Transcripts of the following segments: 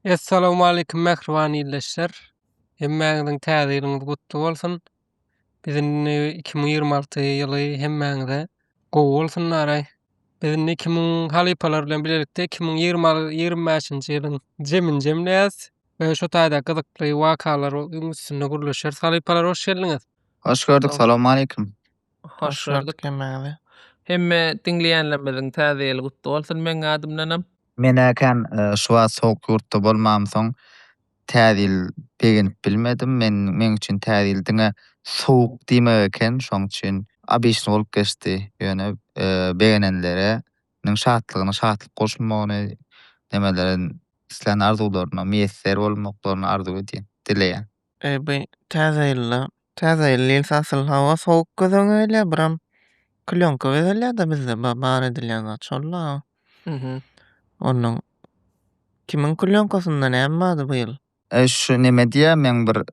Essalowmalikim mähriban ildeşler. Hemmäňiziň täze ýylyňyz gutly bolsun. Biz indi 2026 ýyly hemmäňize gowy bolsun diýäraý. Biz indi 2000 halypalar bilen bilelikde 2025-nji ýylyň jemini jemleýäs we şu taýda gyzykly wakalar öň üstünde gürleşeris. Halypalar hoş geldiňiz. Hoş gördük, salowmalikim. Hoş gördük hemmäňizi. Hemme diňleýänlerimiziň täze ýyly gutly bolsun meň adymdanam. Menekem şu wagt sowuk ýurtda bolmamsoň Täze ýyl begenip bilmedim. Men meň üçin Täze ýyl diňe sowuk diýmek eken, şoň üçin obyçny bolup geçdi. Ýöne begenenlere niň şatlygyna şatlyk goşulmagyny, nemelere islän arzuwlaryna miýesser bolmaklaryny arzuw edýän, dileýän. Eý bu täze ýylda. Täze ýyl diýilse asyl hawa sowuk göz öňe gelýär, biram klýonka bezelýär-de bizde ba- bar edilýän zat şol-la. Mhm. Onuň kimiň klýonkasynda näme bardy bu ýyl? Eý şu neme diýýär meň bir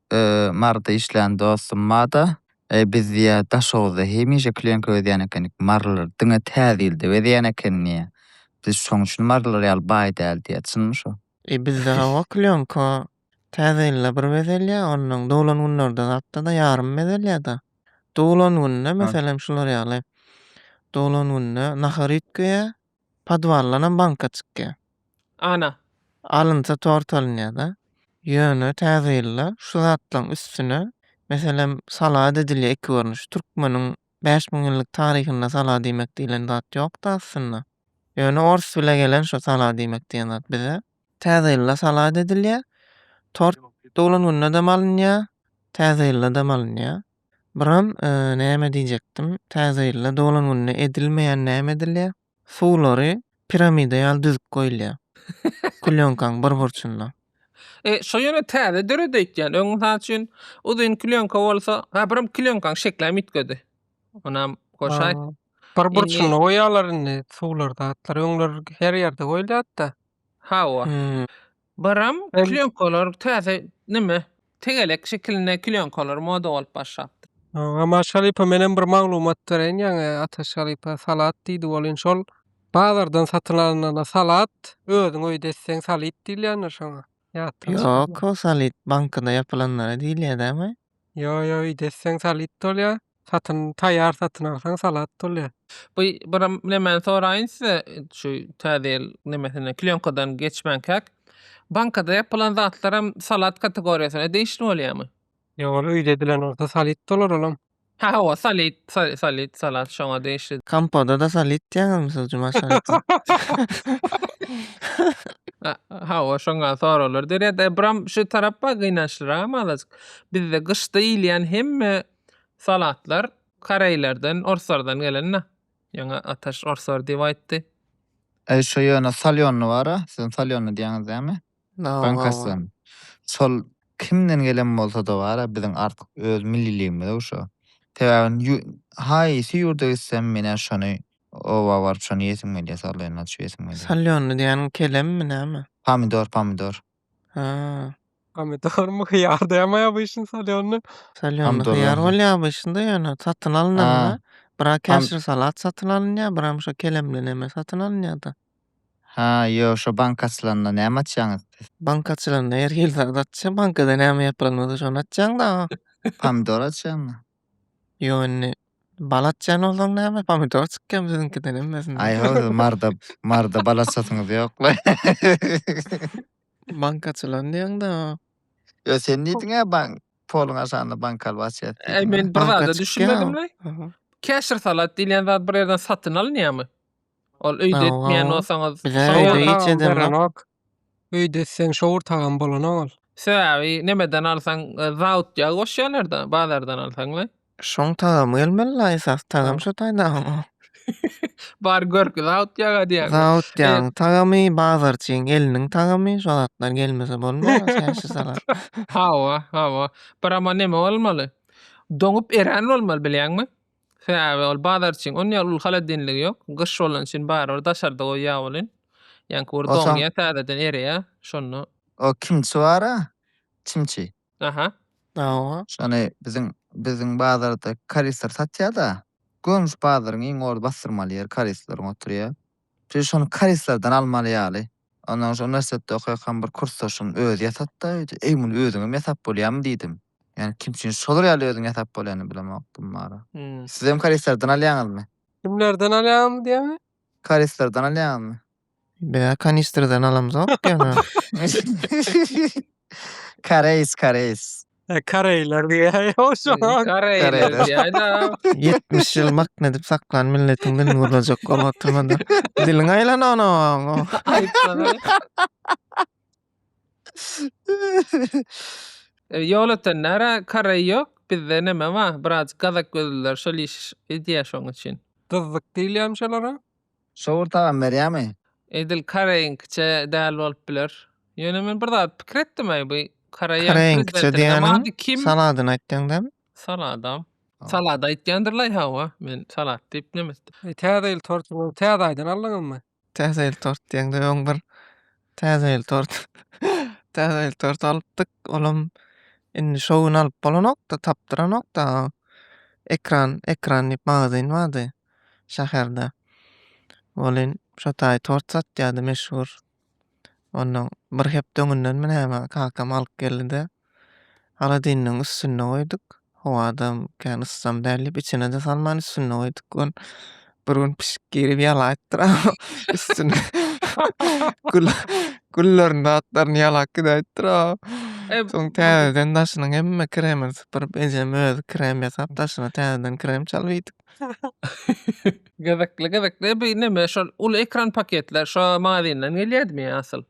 marda işleýän dostum barda, eý biz diýýär Daşoguzda hemişe klýonka bezýän ekenik, marlar diňe täze ýylda bezeýän eken diýýär. Biz şoň üçin marlar ýaly baý däl diýýär, çynmy şo? Eý bizde hawa klýonka Täze ýylda bir bezelýär, onnoň doglan günlerde zatda-da ýarym bezelýär-de. Doglan günde, meselem, şular ýaly, doglan günde nahar üýtgeýär, podwaldanam banka çykýar. Ana. Alynsa tort alynýar-da. Ýöne Täze ýylda şu zatlaryň üstüne, meselem, salad edilýär iki görnüşli. Türkmeniň bäş müň ýyllyk taryhynda salad iýmek diýlen zat ýok-da aslynda. Ýöne ors bile gelen şo salad iýmek diýen zat bize. Täze ýylda salat edilýär. Tort doglan gündedem alynýar, Täze ýyldadam alynýar. Buram näme diýjekdim, Täze ýylda doglan günde edilmeýän näme edilýär? Suwlary piramida ýaly düzüp goýulýar. Klýonkaň bir burçunda. E, şo ýöne täze döret öýtýän. Öň, mysal üçin, uzyn klýonka bolsa, ha, buram klýonkaň şekläm üýtgedi. Onam goşaý. Bir burçunda goýýarlar indi suwlar, zatlar. Öňler her ýerde goýulýardy-da. Hawa. Baram klýonkalar täze nime tegelek şekilinde klýonkalar moda bolup başlapdyr. Aman Şalypa menem bir maglumat bereýin ýaňy Ataş Şalypa salat diýdi ol indi şol bazardan satyn alynana salat özüň öýde etseň salyt diýilýändir şoňa ýatdan çykyp. Ýok o salyt bankada ýapylanlara diýilýär dämi? Ýo ýo öýde etseň salyt bolýar. Satyn taýýar satyn alsaň salat bolýar. Bu bir nemeni soraýyn size şu täze ýyl nemesinden klýonkadan geçmänkäk bankada ýapylan zatlaram salat kategoriýasyna degişli bolýarmy? Ýok ol öýde edilen bolsa salit bolar olam. Hä hawa salit salit salat şoňa degişli. Kompoda da salit diýýäňizmi siz Jumaş şalytyn. Hawa şoňa soraglar dörýär-de buram şu tarap bar gynançlyram azajyk. Bizde gyşda iýilýän hemme Salatlar koreýlerden, orslardan gelen-dä. Ýöne Ataş orslar diýip aýtdy. Eý, şo ýöne salýonny bar-a, siziň salýonny diýýäňiz dämi? Bankasdan. Şol kimden gelen bolsa-da bar-a, biziň artyk öz milliligimiz-ow şo. Sebäbi haýsy ýurda gitsem, men-ä şony oba baryp, şony ýesim gelýär, salýonny açyp ýesim gelýär. Salýonny diýýäniň kelemmi, näme? Pomidor, pomidor. Haa. Pomidormy hyýar däme abyşyn salýonda. Salýonda hyýar bolýar abyşynda ýöne satyn alynanda bira käşir salat satyn alynýar biram şo kelemli neme satyn alynýada. Ha ýo şo banka açylanda näme açýaňyz siz? Banka açylanda her hil zat açýa bankada näme ýapylanmasa şony açýaňda aga. Pomidor açýaňmy? Ýok indi bal atýan bolsaň näme pomidor çykýamy siziňkiden hemmesinden. Aý ol marda marda bal atsasyňyz ýokla. Bank açylan diýeňda. Ýok sen diýdiňä bank poluň aşagynda bank alyp açýas diýdiň. Aý men bir zada düşünmedim laý. Keşir salat diýilýän zat bir ýerden satyn alynýamy? Ol öýde etmeýän bolsaňyz. Bizä öýde hiç edemok. Öýde isleň şowur tagam bolan oňal. Sebäbi nemeden alsaň zaut ýagy goşýarlarda bazardan alsaňlaý. Şoň tagamy gelmelila esas tagam şo taýdagyň. Bar görki zaut ýaga diýýäňmi. Zaut ýagyň tagamy bazarçyň eliniň tagamy şo zatlar gelmese bolmaz çäşe salat. Hawa hawa. Birama neme bolmaly. Doňup erän bolmaly bilýäňmi. Sebäbi ol bazar üçin on ýaly uly holodilnigi ýok. Gyş bolany üçin barybir daşarda goýýar welin, ýaňky bir doňýar täzeden ereýär, şonda. O kimçi bara, çimçi. Aha. Hawa. Şony biziň biziň bazarda karisler satýada. Gömüş bazaryň iň ordy bassyrmaly ýeri karisleriň oturýar. Şu şony karislerden almaly ýaly. Ondan soň şu uniwersitetde okaýakam bir kursdaşym özi ýasatda öýde. Eý muny özüňem ýasap bolýamy diýdim. Ýani kim üçin şolar ýaly özüň ýasap bolýany bilemok kim bara. Hmm. Sizem koreýslerden alýaňyzmy? Kimlerden alýaňyz diýemi? Koreýslerden alýaňyzmy? Bä kanistrden alamzok ýöne. Koreýs, koreýs. E, Koreýler diýýär. O şo. Koreýler diýýär-de. 70 ýyl makn edip saklan milletiň dilini gurlajak oba oturmada. Diliň aýlan onuň. Aýtsaňa. E, Ýol ötenlere karaý ýok, bizde neme ba, birazjyk gazak gözlüler şol iş edýä şoň üçin. Gyzzyk diýilýämi şolara? Şowur tagam berýämi? Edil karaýyňkyça däl bolup biler. Ýöne men bir zat pikir etdim-aý, bu karaýyň Karaýyňkyça prezidentiniň diýeniň ady kim? saladyny aýtýaň däl? Saladam. Aw. Salada aýtýandyr-laý, hawa, men salat diýip neme etdim. E, Täze ýyl tortuňyzy täze aýdan aldyňyzmy? Täze ýyl tort diýeňde öň bir Täze ýyl tort. Täze ýyl tort alypdyk. Olam indi şo gün alyp bolanokda, tapdyranokda. Ekran, ekran diýip magazin bardy şäherde. Welin şo taý tort satýardy meşhur. Ondan bir hepde öňünden mi näme kakam alyp geldi-de. Holodilnigiň üstünde goýduk. Howada kän yssam däl diýip içine-de salman üstünde goýduk. Ol bir gün pişik girip ýalaýypdyr. Üstüne gül gülleriň zatlaryny ýalap gidäýipdir. Soň täzeden daşynyň hemme kremini sypyryp ejem özi krem ýasap daşyna täzeden krem çalyp iýdik. Gyzykly gyzykly bu neme şol uly ekran paketler şo magazinden gelýädimi asyl?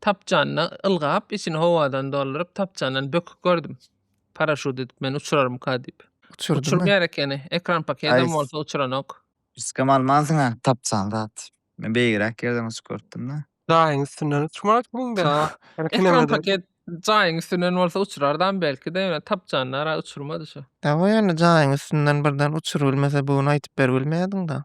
Tapjanyna ylgap, içini howadan dolduryp, tapjandan böküp gördüm. Paraşut edip meni uçurarmyka diýip. Uçurdymy? Uçurmaýar ekeni. Ekran pakedem Aý. bolsa uçuranok. Üstkem almansyň-a tapjan zat. Men beýigräk ýerden uçup görüpdim-de. Jaýyň üstünden uçmaly kimde? Ekran paket jaýyň üstünden bolsa uçurardam belki-de, ýöne tapjanda-a uçurmady şu. Hawa ýöne jaýyň üstünden birden uçurybilmese bugün aýtyp beribilmeýärdiň-da.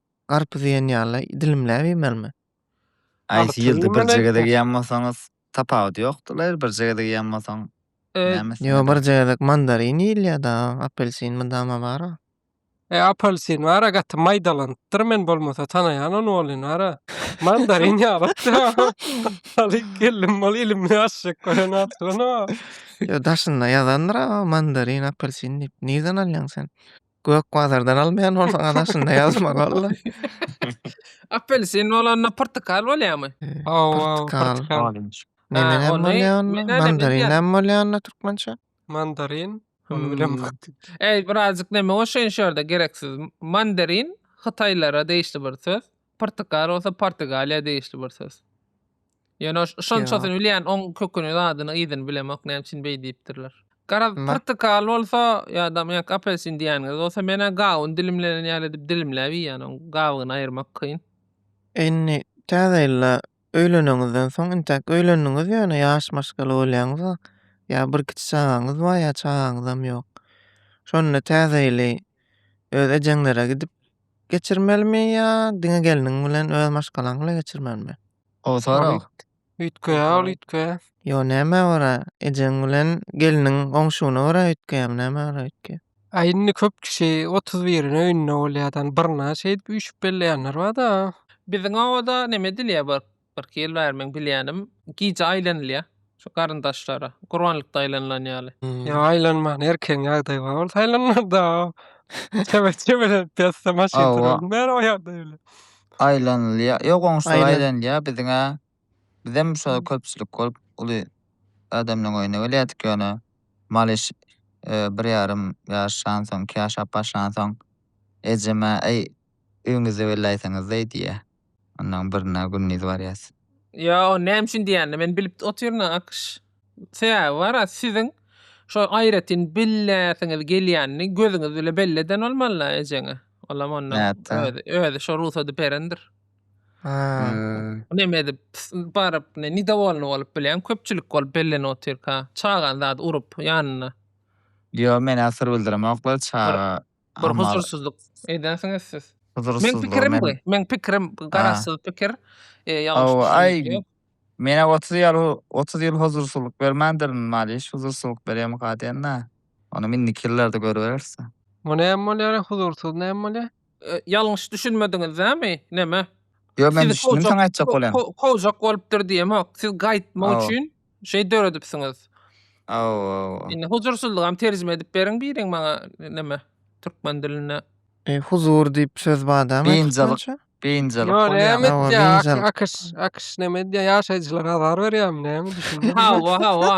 Garpyz iýen ýaly dilimläp iýmelimi? Haýsy ýylda birje gezek iýen bolsaňyz, tapawudy ýokdyr, birje gezek iýen bolsaň, nämesi? Ýo, birje gezek mandarin iýilýär-de, apelsin mydama bar-a. E, apelsin bar-a, gaty maýdalanypdyr, men bolmasa tanaýan ony welin, ara, mandarin ýalypdy, alyp geldim, ol ilimli aşşek gören aslynda. Ýo, daşynda ýazandyr-a, mandarin, apelsin diýip, nirden alýaň sen? Gök bazardan almaýan bolsaňyz aşynda ýazmaly boldy. Apelsin bolanda portakal bolýarmy? Hawa, Portakal. portakal. Orange. Melon hem ony- bolýar onda, melon hem mandarin bilýän. hem bolýar onda türkmençe. Mandarin. Ony Hmm. bilemok. Eý, birazjyk neme goşaýyn şu ýerde gereksiz. Mandarin hytaýlara degişli bir söz. Portakal bolsa Portugaliýa degişli bir söz. Ýöne şonçasyny bilýän, oň köküni, zadyny, yzyny bilemok, näme üçin beý diýipdirler. Garaz, pyrtykal bolsa, ýa-da ýa-da apelsin diýýäniňiz bolsa, men-ä gawun dilimlenen ýaly edip dilimläp iýýän, oň gabygyny aýyrmak kyn. Indi Täze ýylda öýleneňizden soň, intäk öýlendiňiz ýöne ýaş maşgala bolýaňyz, ýa bir kiçi çagaňyz bar, ýa çagaňyzam ýok. Şonda Täze ýyly öz ejeňlere gidip geçirmelimi ýa diňe gelniň bilen, öz maşgalaň bilen geçirmelimi? O sorag. Üýtgeýär ol üýtgeýär. Ýo näme ora ejeň bilen gelniň oňşugyna görä üýtgeýämi näme ora üýtgeýär. A indi köp kişi otuz birine öýünde bolýar da birine şeýdip üýşüp belleýänler barda. Biziň obada neme edilýär bir iki ýyl bäri meň bilýänim gije aýlanylýar. Şu garyndaşlara. Gurbanlykda aýlanylan ýaly. Ýok aýlanman erkegiň ýagdaýy bar bolsa aýlanarda. Çebet çebelenip ýatsa maşyn Hawa. turan bäri o ýagdaý bilen. Aýlanylýar. Ýok goňşular Aýlan. aýlanylýar biziň-ä. Bizem şo köpçülik bolup uly adamlaryň öýüne gelýärdik ýöne Malyş e, bir ýarym ýaşansoň, iki ýaşap başlansoň ejem-ä, Äý, Öýüňizde weli aýtsaňyzdaý diýýä. Onlaň birine gündiz barýas. Ýo, näme üçin diýýänini men bilip otyryn-a, Akyş. Sebäbi bar-a, siziň şo aýratyn billeýäsiňiz gelýänini gözüňiz bile belli eden bolmaly-a ejeňe. Olam onnoň Nätdä? özi, özi şo rugsady berendir. Aa. Neme edip, baryp, ne, nidowolyny bolup bilýän, köpçülik bolup bellenip otyrka, çagany zady urup, ýanynda. Ýo, men-ä syr bildiremoklar, çaga Bir huzursyzlyk edensiňiz siz. Meň pikirim bu. Meň pikirim garaşsyz pikir. Ýalňyş. Menä 30 ýyl 30 ýyl huzursyzlyk bermändir Maliş huzursyzlyk berýärmi gadyýanda. Ony indiki ýyllarda görüberis. Bu näme bolýar huzursyz näme bolýar? Ýalňyş düşünmediňiz dämi? Näme? Ýok men düşündim saňa aýtjak bolýan. Kowjak bolupdyr diýemok. Siz gaýtmak üçin şey döredipsiňiz. Aw. Indi huzursyzlygam terjime edip beriň biriň maňa näme türkmen dilinde. E, huzur diýip söz badam. Biynjalyk. Biynjalyk. Ýok, näme edýär? Akyş, akyş näme edýär? Ýaşaýjylar azar berýärmi näme düşündim. Hawa, hawa.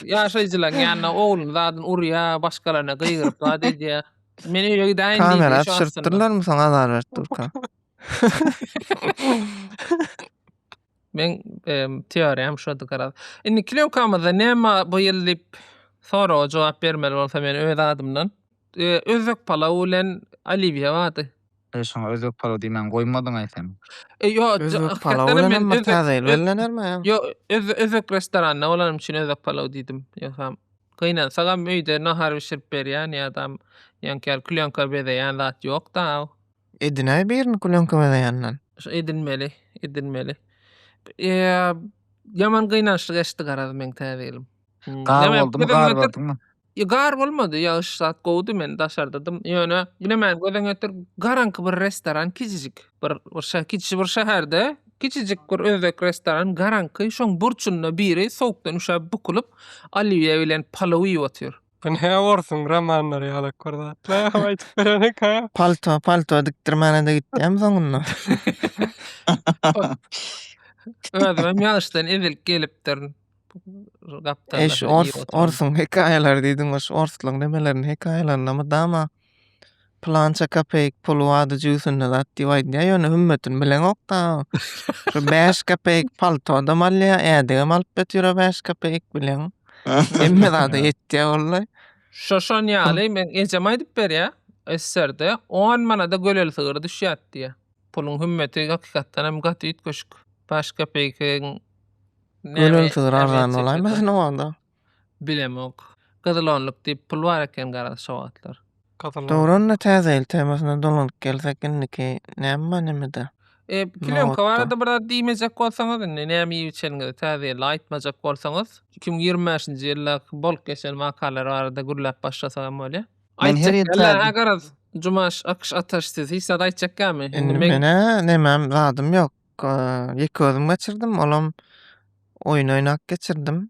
Ýaşaýjylaryň ýanyna ogluny zadyn urýar, başgalaryna gygyryp zat edýär. Men öýe gidäýin diýdi. Kamera düşüripdirlermi soň azar berip durka. Men teoriýam şody garaz. Indi kilomkamyzda näme bu ýyl diýip soraga jogap bermeli bolsa men öz adymdan. Özbek palaw bilen oliwiýa bardy. E şoňa özbek palaw diýmän goýmadyňaý sen. E ýo Özbek palaw bilen hem bir täze ýyl bellenermi? Ýo özbek restoranda bolanym üçin özbek palaw diýdim. Ýogsa gynansagam öýde nahar bişirip berýän ýa-da ýaňky ýaly kilomka bezeýän zat ýok-da. Edinäý birini kulenkama daýandan. Şu edinmeli, edinmeli. Eee, ýaman gynançly geçdi garaz meň täze ýylym. Gar Näme, boldumy, gözüňe gar getir- gördüňmi? Ýa, Gar bolmady, ýagyş zat gowudy, men daşardadym. Ýöne, ine men gözüňe getir, garaňky bir restoran, kiçijik bir, bir şä, kiçi bir şäherde, kiçijik bir özbek restoran, garaňky, şoň burçunda biri sowukdan üşäp, bukulyp, olýuýa bilen palow iýip otyr. Bu ne orsuň romanlary ýalak bir zatlar hem aýdyp berenik ha. Palto, palto dikdirmäne-de gitýämi soňunda? Özümem ýaşdan ezilik gelipdir. Gapdalda. Eş, ors, orsuň hekaýalary diýdiň, oş orsluň nemelerini, hekaýalaryny mydama. Pylança kapeýk pul wada jüýsünde zat diýip aýdýar, ýöne hümmetini bileňok-da. Şu bäş kapeýk paltodam alýar, ädigem alyp götürer bäş kapeýk bileň. Hemme zada ýetýär walla. Şo şon ýaly, meň ejem aýdyp berýär, SSR-de on manada göleli sygyr düşýärdi diýýär. Puluň hümmeti hakykatdan hem gaty üýtgeşik. Bäş kapeýkiň näme Göleli sygyr arzan ähmiýeti bolaýmasyn ýeter? o wagda? Bilemok. Gyzyl onluk diýip pul bar eken garaz şo wagtlar. Dowran-da Täze ýyl temasyna dolanyp gelsek indiki näme manymyda? E, plýonka barada bir zat diýmejek bolsaňyz, indi näme iýip-içeniňizi Täze ýylda aýtmajak bolsaňyz, iki müň ýigrimi bäşinji ýyldaky bolup geçen wakalar barada gürläp başlasak hem bolýar. Men her ýyl Aýtjak ýaly-hä garaz, Jumaş, Akyş, Ataş siz hiç zat aýtjak ýalymy? Indi men. Men-ä nemem, zadym ýok. Ýeke özüm geçirdim, olam oýun oýnap geçirdim.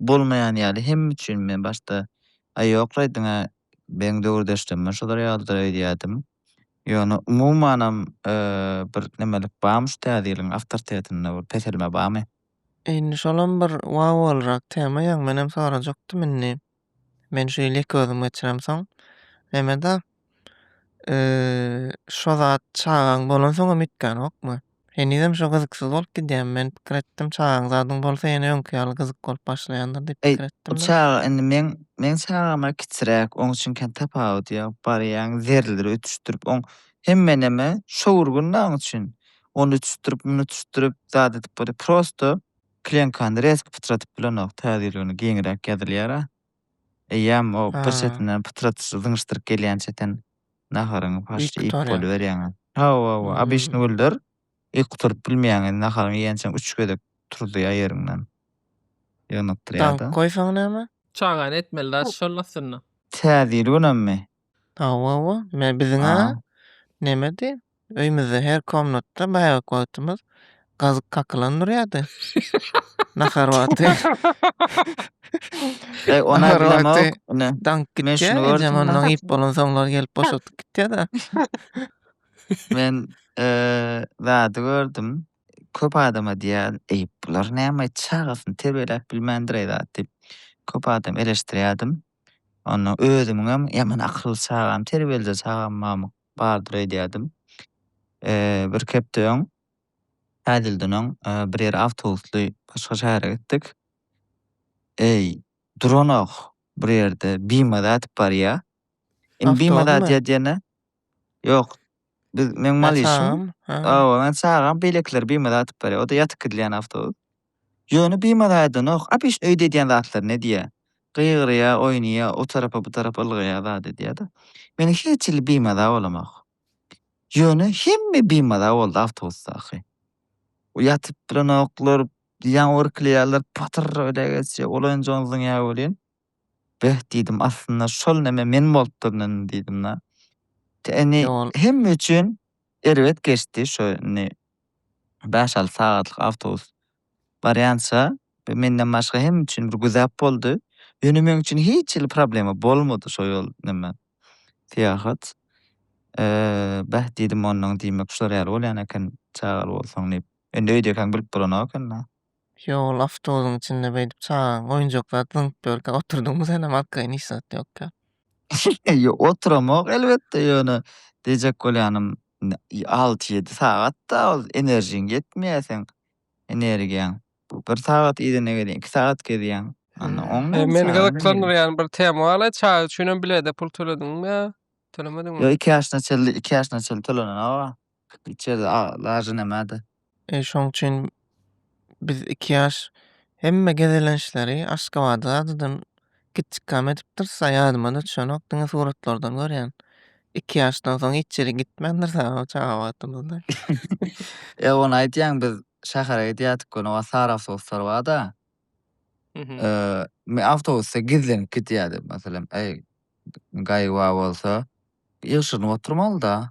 Bolmaýan ýaly hemme üçin men başda Aý ýokla aýdyňa beň döwürdeşlemem şolar ýalydyr öýdýädim. Ýöne umumanam bir nemelik bamy şu täze ýylyň awtortetinde bir peselme bamy. Indi şolam bir wow bolrak tema ýaň menem sorajakdym indi men şu ýyl ýeke özüm geçiremsoň nemeda Şo zat çagaň bolansoňam etgänokmy? Henizem şo gyzyksyz bolup gidýärmi? Men pikir etdim, çagaň zadyň bolsa ýene öňki ýaly gyzyk bolup başlaýandyr diýip pikir etdim-de. Çaga indi meň, meň çagama kiçiräk, oň üçin kän tapawudy ýok. Barýaň zerleri ötüşdirip, oň hemmeneme şo bir günde oň üçin. Ony ötüşdirip, muny ötüşdirip, zat edip bolýar. Prosto klenkany reski pytradyp bilenok, täze ýyl güni giňräk ýazylýar-a. Eýýäm o bir çetinden pytrat zyňyşdyryp gelýän çeten naharyňy paşşa iýip boluberýäň-ä. Hawa-hawa, obişni güldir. Yk guturyp bilmeýäň, indi naharyňy iýençäň üç gezek turuzýa ýeriňden. Ýygnakdyrýa-da. Daňyp goýsaň näme? Çagany etmeli-dä şol aslynda. Täze ýyl günemmi? Hawa we me biziň-ä A. nemedi, öýmüzde her komnatda bäbek wagtymyz gazyk kakylan durýardy. Nahar wagty. Eý, ony-a Nahar wagty bilemok, ine. daňyp Men şuny gitýär, ejem gördüm-le. ondan iýip bolansoňlar gelip boşadyp gitýär-de. Men, eee, zady gördüm. Köp adama diýýärdim, Eý, bular näme, çagasyny terbiýeläp bilmändir-eý zat diýip, köp adam eleşdirýärdim. Onda özümiňem ýaman akylly çagam, terbiýeli-de çagam mamyk bardyr öýdýärdim. Bir hepde öň, täjilden öň bir ýere awtobusly başga şähere gitdik. Eý, duranok bir ýerde, bimaza atyp barýar. Awtobusmy? Bimaza atyp ýatyr ýene, Ýok. Biz meň mal işim. Awa, men çagam beýlekiler bimada atyp barýar. O-da ýatyp gidilýän awtobus. Ýöne bimada aýdanok. Abiş öýde edýän zatlaryny edýär. Gygyrýar, oýnaýar, o tarapa, bu tarapa ylgaýar, zat edýär-de. Men hiç hili bimada bolamok. Ýöne hemme bimada boldy awtobusdaky. Ýatyp bilenoklar, ýaňy irkilýärler, patyr öýdä geçýär, olaýynjam zyňýar welin. Beh diýdim, aslynda şol neme men bolup durun indi diýdim-de. Indi ol hemme üçin erbet geçdi, şo indi bäş-alty sagatlyk awtobus barýança bu menden başga hemme üçin bir güzap boldy. Ýöne meň üçin hiç hili problema bolmady şo ýol neme syýahat. Beh diýdim, onnoň diýmek şular ýaly bolýan eken çagaly bolsaň diýip. Indi öýdekäň bilip bolanok indi. Ýol awtobusyň içinde beýdip çagaň oýunjak zady zyňyp ýörkä oturdyňmy senem arkaýyn hiç zat ýokka. Ýok oturamok elbetde ýöne diýjek bolýanym alty ýedi sagatda ol enerjiň ýetmeýä seň energiýaň bu bir sagat idene gelýän iki sagat gezýäň onda oň näme Meni gyzyklandyrýan bir tema bar çaga üçinem bilede pul tölediňmi ýa tölemediňmi? Ýok iki ýaşyna çenli iki ýaşyna çenli tölenen aga. Içeride lajy nämede? E, şoň üçin biz iki ýaş hemme gezelençleri Aşgabada zadydan gitjikkäm edipdiris, a ýadyma-da düşenok, diňe suratlardan görýän. Iki ýaşdan soň hiç ýere gitmändiris a o çaga wagtymyzda. E, ony aýdýaň, biz şähere gidýärdik göni, o wagt sary awtobuslar bar-da. Men awtobusda gizlenip gidýärdim, meselem, eý, gaýgy bar bolsa, ýygşyrynyp oturmaly-da.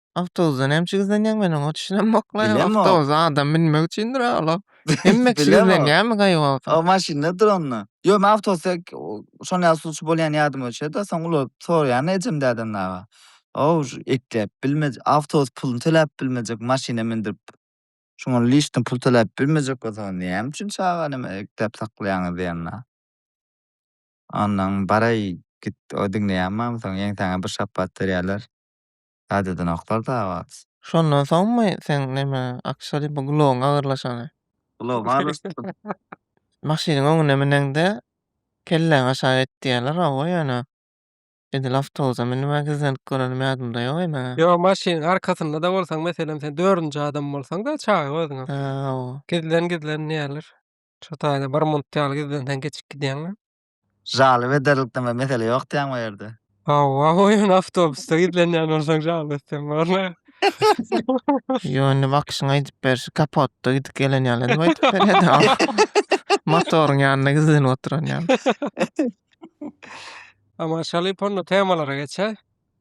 Awtobusda näme üçin gizlenýäň? Men oňa düşünemok la. Bilemok. Awtobusa adam binmek üçindir a ol. Hemme kişi Bilemok. gizlenýärmi gaýgawakda? O maşynda dur onda. Ýok, men awtobusda şon ýaly suwçy bolýan ýadym öçe-de, soň ulanyp soraýaryn ejem däden dagy. Ow, şu ekläp bilmejek, awtobus puluny töläp bilmejek, maşyna mündirip, şuňa lişni pul töläp bilmejek bolsaňyz, näme üçin çagany hemen ekläp saklaýaňyz diýerin a. Onnoň, baraý, git, o diňleýänmi, onsoň ýeňsäňe bir şapbat berýärler. Gadýadan oklar da abat. Şondan soňmy seň neme akşary bu gulagyň agyrlaşany? Gulagym agyrlaşypdyr. Maşynyň öňüne müneňde kelläňi aşak et diýerler hawa ýöne edil awtobusa münüp a gizlenip görenim ýadymda ýok eý meň-ä. Ýok maşynyň arkasynda-da bolsaň meselem sen dördünji adam bolsaň-da çaga özüňem. Hä hawa. Gizlen gizlen diýerler. Şu taýda bir munt ýaly gizlenseň geçip gidýäň-le. Jalyp ederlikden bir mesele ýok diýýäň bu ýerde. Hawa, oýun awtobusda gizlenýän bolsaň jalyp etseň bolany. Ýo indi bakyşyň aýdyp berşi kapotda gidip gelen ýaly edip aýdyp berýädä. Motoryň ýanynda gizlenip oturan ýaly. Ama şalyp onda temalara geçäý.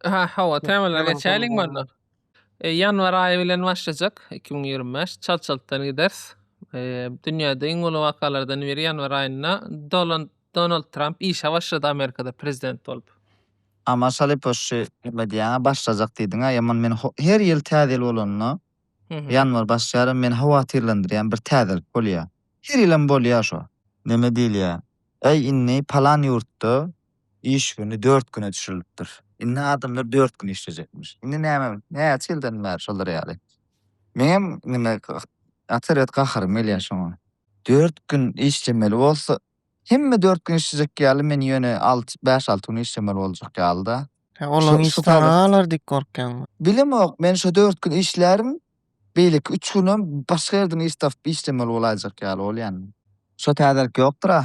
Aha, hawa, temalara Ýalan geçäýeliň temadan bolna. bar. E, Ýanwar aýy bilen başlajak 2025. Çalt-çaltdan gideris. E, Dünýäde iň uly wakalardan biri ýanwar aýynda Dolan- Donald Tramp işe başlady Amerikada prezident bolup. A maşaly poşşy nime diýýäňä başlajak diýdiňä ýaman men ho- her ýyl täze ýyl bolanda Hı hı. ýanwar başlaýaryn meni howatyrlandyrýan bir täzelik bolýa. Her ýylam bolýa şo. Neme diýilýä? Äý inni palan ýurtda Iş güni dört güne düşürilipdir. Indi adamlar dört gün işlejekmiş. Indi näme, näçe ýyldan bäri şolar ýaly. Meňem neme atyryat gaharym gelýär şoňa. Dört gün işlemeli bolsa, hemme dört gün işlejek ýaly, men ýöne alty, bäş-alty gün işlemeli boljak ýaly-da. Sen olaň işi saňa galar diýip gorkýaňmy? Bilemok, men şo dört gün işlärin, beýleki üç günem başga ýerden iş tapyp işlemeli bolaýjak ýaly bolýan. Şo täzelik ýokdur-a?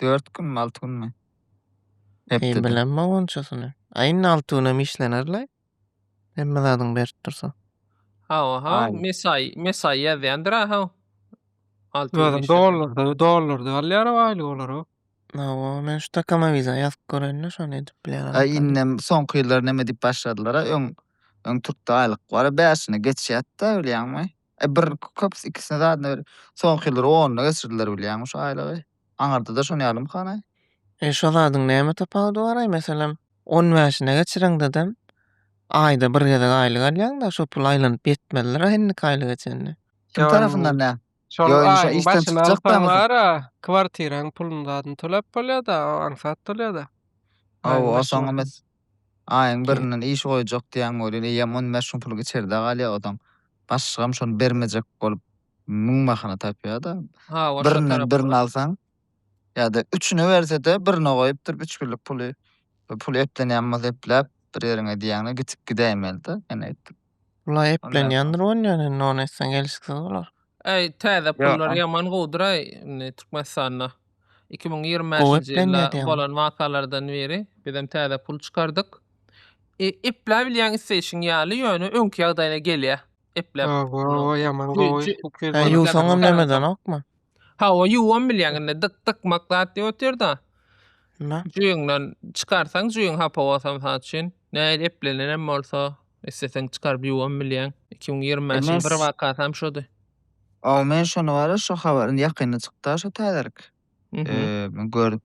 Dört günmi, alty günmi? Hepdede. Bilemmok onçasyny. Aýyň alty günem işlenerlaý. Hemme zadyň berip dursa. Hawa, hawa. Aý. Mesaý, mesaý ýazýandyr aha. Alty gün Özüm işlese. dollarda, dollarda alýar aýlyk olara. Hawa, men şu takama wiza ýazyp göreýin-le, şony edip bilýän adam. Aý tapyp. indem soňky ýyllar neme diýip başladylar-a, öň öň türkde aýlyk bar, bäşini geçýärdi-de, bilýäňmi? E bir köpüsi ikisine zadyna bir soňky ýyllar onyna geçirdiler bilýäňmi şu aýlygy. Aňyrdada şony ýalymy hanaý? E şo zadyň näme tapawudy baraý meselem on bäşine geçireňdedem aýda bir gezek aýlyk alýaňda şo pul aýlanyp ýetmezlera indiki aýlyga çenli. Kim tarapyndan nä? Şol Ýo indi şo aýyň işden başyny çykjak alsaň daňysa. bara kwartiraň puluny zadyny tölep bolýada o aňsat bolýada. Ow Aýyň o soň başyna. mes Aýyň birinden iş goýjak diýýän welin eýýäm on bäş gün pul içerde galýar ozaň. Başlygam şony bermejek bolup müň bahana tapýar-da. Birinden birini alsaň ýa-da üçüni berse-de birine goýup durup üç günlük puly, puly eplenýän bolsa epläp bir ýeriňe diýýäňde gitip gidäýmeli-de. Ýene aýtdym. Bula eplenýändir on ýan indi on etsen gelşiksiz bolar. Äý täze pullar ýaman gowudyraý indi Türkmenistanda. Iki müň ýigrimi bäşinji ýylda bolan wakalardan beri bizem täze pul çykardyk. E, epläp bilýäň isleýşiň ýaly, ýöne öňki ýagdaýyna gelýär. Epläp. Ýaman gowy. Ýuwsaňam nemedenokmy? Hawa ýuwam bilýäň indi dyk dykmak zat diýip otyrda. Nä? Jüýüňden çykarsaň jüýüň hapa bolsam saň üçin. Näil eplenenem bolsa isleseň çykaryp ýuwam bilýäň. 2025 iň bir wakasam şody. Aw men şony bara şu habar indi ýakynda çykda şu täzelik. Eee görüp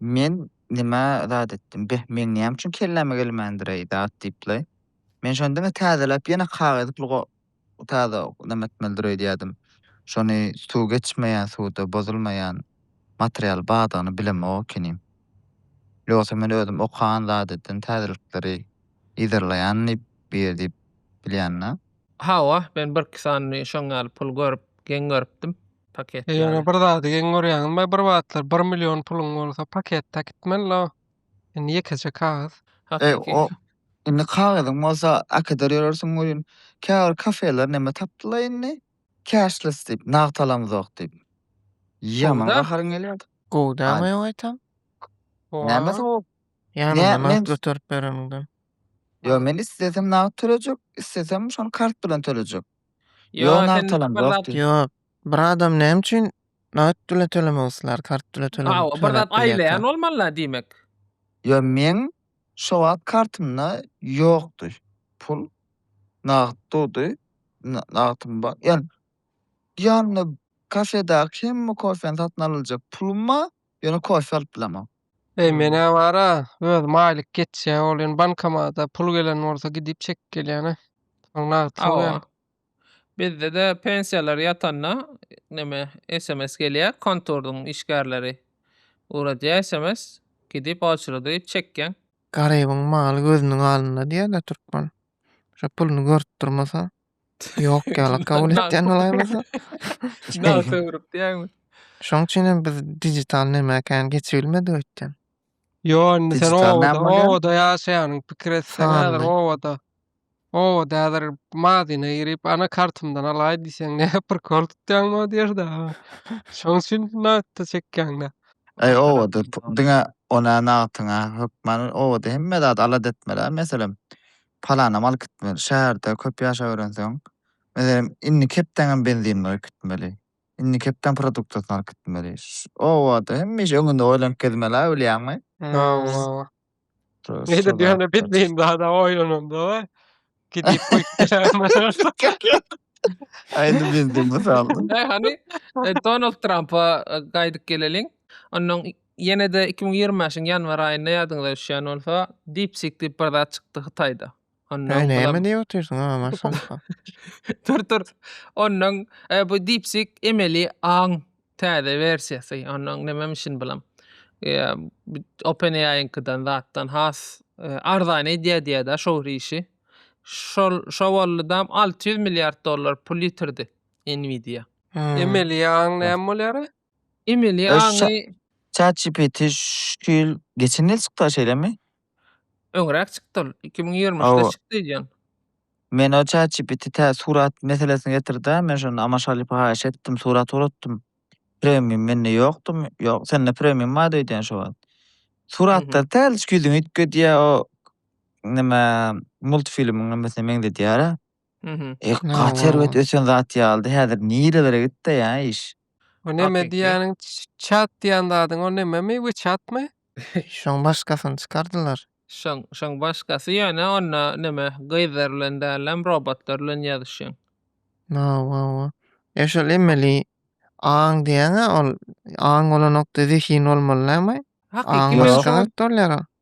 men nima zat etdim beh meň näme üçin kelläme gelmändireý zat diýip laý. Men şony diňe täzeläp ýene kagyz pul Bu taze ok, näme etmelidir öýdýädim. Şony suw geçmeýän suwda bozulmaýan material bardygyny bilemok ekenim. Ýogsa men özüm okan zadeden täzelikleri yzarlaýan diýip bu ýer diýip bilýända. Hawa, men birki sany şoň ýaly pul görüp, geň görüpdim. Paket ýaly. Ýöne bir zady geň görýäňizmi, bir wagtlar bir million puluň bolsa paket-a gitmeli-la. Indi ýekeje kagyz. Hakyky. Eý, indi kagyzyň bolsa äkider ýörersiň welin, käbir kafeler neme tapdylar indi, cashless diýip, nagt alamyzok diýip. Ýaman gaharyň gelýärdi. Gowy dälmi ýa gaýtam? Näme sowap? Ýanyňda nagt göterip bereniňden. Ýok, men islesem nagt tölejek, islesem şony kart bilen tölejek. Yo, Ýok, sen nagtalam bir zat- ýokdy. Ýok. Bir adam näme üçin nagt bilen tölemek islär, kart bilen tölemek Aw, bir töläp zat bilýär aýlaýan kart. bolmaly diýmek. Yo, meň şo wagt kartymda ýokdy pul. Nagt durdy. Na- Nagtym bar. Ýa ýanymda kafedaky hemme kofeni satyn alyljak pulum bar. Ýöne kofe alyp bilemok. Eý menä bara özüm aýlyk geçýä ol ýöne bankomada pul gelen bolsa gidip çekip gelýäne. Soň nagt Hawa. salýa. Bizdede pensiýalar ýatanda neme sms gelýä konturdyň işgärleri ugradýa sms gidip oçrody çekýäň. Garybyň maly gözüniň alynda diýýärler türkmen. Şo puluny görüp durmasa Ýok ýaly kabul etýän bolaýmasyn? Nagt öwrüp diýýäňmi? Şoň üçin hem biz digital näme ekänini geçip bilmedik öýtdem. Ýo, indi sen Digital näme obada, bolýar? obada ýaşaýanyň pikir etseň häzir Sanly. obada. Obada häzir mazyna girip, ana kartymdan alaý diýseň ne prikol tutýaňmy o ýerde? Şoň üçin nagtda çekýäňdä. Eý obada p- diňe ona nagtyňa hökman obada hemme zady alada etmeli-ä meselem. Palanam alyp gitmeli. Şäherde köp ýaşap öýrenseň, meselem, indi kepdäňem benziniňi goýup gitmeli. Indi kepdäň produktasyny alyp gitmeli. Obada hemişe öňünde oýlanyp gezmeli-ä, bilýäňmi? Hawa-hawa. Nedir diýýän-ä, bilmeýin zad-a oýlananda-a gidip goýup geläýmeli. Aýdyň benzin mysalyny. Hany, Donald Trampa gaýdyp geleliň. Ondan Ýene-de iki müň ýigrimi bäşiň ýanwar aýynda ýadyňyza düşýän bolsa, DeepSeek diýip bir zat çykdy Hytaýda. Onda Heý, näme diýip otyrsyň, a, maşallah. Tur, tur. Ondan e, bu DeepSeek emeli aň täze wersiýasy. Ondan nämem işin bilam. E, OpenAI-nyňkydan zatdan has e, arzan edýär diýýär-de şo bir işi. Şol şo bolludam 600 milliard dollar pul ýitirdi Nvidia. Hmm. Emeli ýaň näme bolýar? Emeli Öş ça- aňy ChatGPT şu ýyl geçen ýyl çykdy şeýlemi? öňräk çykdy ol. 2023-de Hawa. çykdy öýdýän. Men o ChatGPT tä surat meselesini getirdi-ä. Men şonda Amaşalypa haýyş etdim, surat ugrutdym. Premium mende ýokdumy? Ýok, sende premium bardy öýdýän şo wagt. Suratlary täliçik ýüzüňi üýtgedýär, o nime, multfilmiň nimmesine meňzedýär-ä. Mhm. Eh, Hawa, gaty hawa. erbet ösen zat ýalydy. Häzir nirelere gitdi ýa iş? Bu neme Hakiki. diýýäniň ç- çat diýýän zadyň o nememi? Wechatmy? Şoň başgasyny çykardylar. Şoň, şoň başgasy ýöne onda neme gyzlar bilen dälem robotlar bilen ýazyşýan. Hawa, hawa. E şol emeli aň diýýäň-ä ol aň bolanokda zehin bolmaly dälmi? Hakiki Aň Ýok. başga zat bolýar o.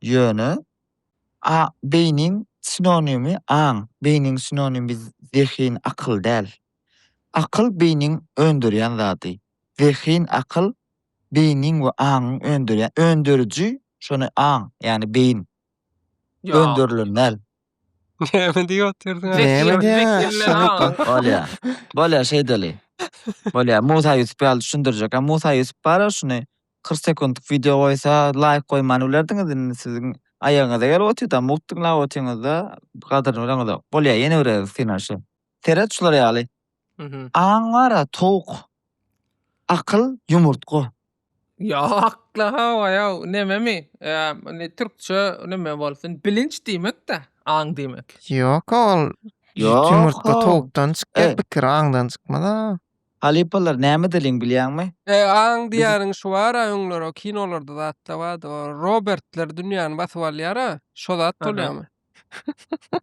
Ýöne, a beýniň sinonimi aň, beýniň sinonimi zehin, akyl däl. Akyl beýniň öndürýän zady. Zehin, akyl beýniň we aňyň öndürýän, öndüriji şony aň, ýagny beýin. Öndürilen däl. Näme diýip otyrsyň aý? Näme diýýäň? Bolýa. Bolýa şeýdeli. Bolýa. Musa Ýusup ýaly düşündirjek. Musa Ýusup bar-a şuny. Kyrk sekuntlyk wideo goýsa laýk goýman bilerdiňiz indi siziň aýagyňyza gelip otyrda mugt diňläp otyrňyzda gadyryny bileňizok. Bolýa ýene bireris synanyşy. Seret şular ýaly. Mhm. Aň bara towuk. Akyl ýumurtga. Ýokla hawa ýow nememi indi türkçe neme bolsun bilinç diýmekda aň diýmek. Ýoka ol Ýoka. ýumurtga towukdan çykýar Eý. pikir aňdan çykmaz a. Halypalar näme diliň bilýäňmi? E aň diýýäniň şu bara öňler o kinolarda zatda bardy o Robertler dünýäni basyp alýara şo zat bolýamy?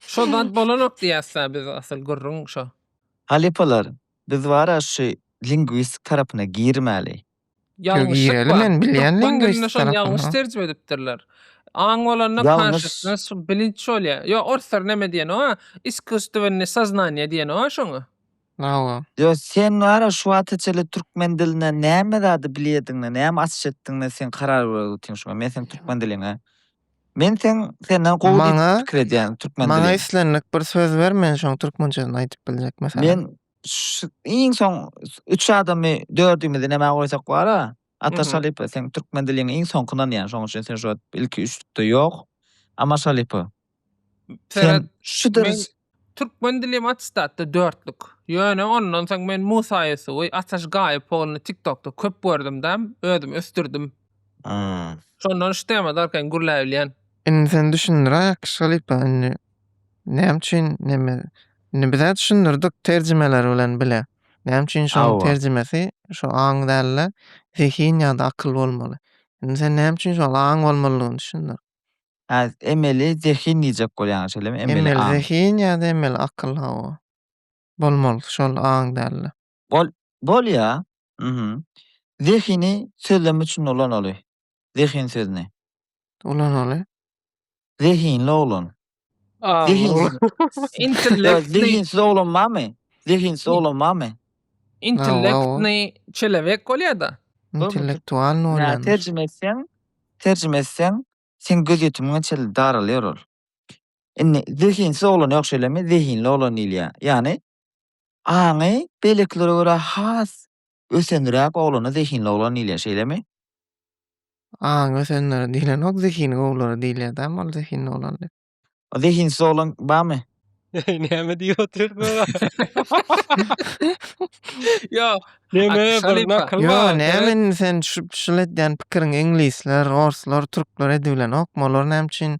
Şo zat bolanok diýäsda biz asyl gürrüň şo. Halypalar biz bara şu lingwistik tarapyna girmäli. Ýalňyşlyk bar. Türkmen dilinde şony ýalňyş terjime edipdirler. Aň bolanda konşusness, bilinç bolýar. Ýok, orslar näme diýen-ow-a? Iskusstvennýe soznanýe diýen-ow-a şoňa? Hawa. Ýok, sen wara şu wagta çenli türkmen dilinden näme zady bilýärdiň-le, näme açyş etdiň-le, sen karar berip otyň şoňa. Men seň türkmen diliňe. Men seň senden gowy diýip pikir edýän türkmen dilini. Maňa islendik bir söz ber, men şoň türkmençesini aýdyp biljek, meselem. Men Şu iň soň üç adamy dördümizi nämä goýsak bar-a? Atar Şalypow, seň türkmen diliňi iň soňky ynanýan, şoň üçin sen şu wagt ilki üçlükde ýok. Amar Şalypow, sen şu ders. Türkmen dilim attestatda dörtlük. Ýöne ondan soň men Musa Ýusuby, Ataş Gaýyp ogluny TikTokda köp gördüm-däm, özüm ösdürdim. Şondan şu tema darkaýyn gürläbilýän. Indi sen düşündiräýek Şalypow indi Näme üçin neme? Indi biz hä düşündirdik terjimeler bilen bile. Näme üçin şoň Hawa. terjimesi şu aň däl-de, zehin ýa-da akyl bolmaly. Indi sen näme üçin şol aň bolmalydygyny düşündir. Hä, emeli zehin diýjek bolýaň, şeýlemi? Emeli Emeli aň. zehin ýa-da emeli akyl, hawa. Bolmaly şol aň däl-de. Bol bolýa. Mhm. Zehini sözlem üçin ulanaly. Zehin sözüni. Ulanaly. Zehinli oglan. A. Zehinsiz. Intellekt. Zehinsiz oglan barmy? Zehinsiz oglan barmy? Intellektny çelewek bolýa-da. Intellektualny bolýar. Terjime etseň, terjime etseň, seň gözýetimiňe çenli daralýar ol. Indi zehinsiz oglan ýok şeýlemi? Zehinli oglan diýilýär. Ýagny Aňy beýlekilere görä has ösenräk oglana zehinli oglan diýilýär, şeýlemi? Aňy ösenlere diýlenok, zehini gowulara diýilýär dämi ol zehinli oglan diýip? Zehinsiz oglan barmy? Eý, näme diýip otyr bu? Ýok, näme bir nakyl bar. Ýok, näme indi sen şul edýän pikiriň iňlisler, orslar, türkler edibilenokmy? Olar näme üçin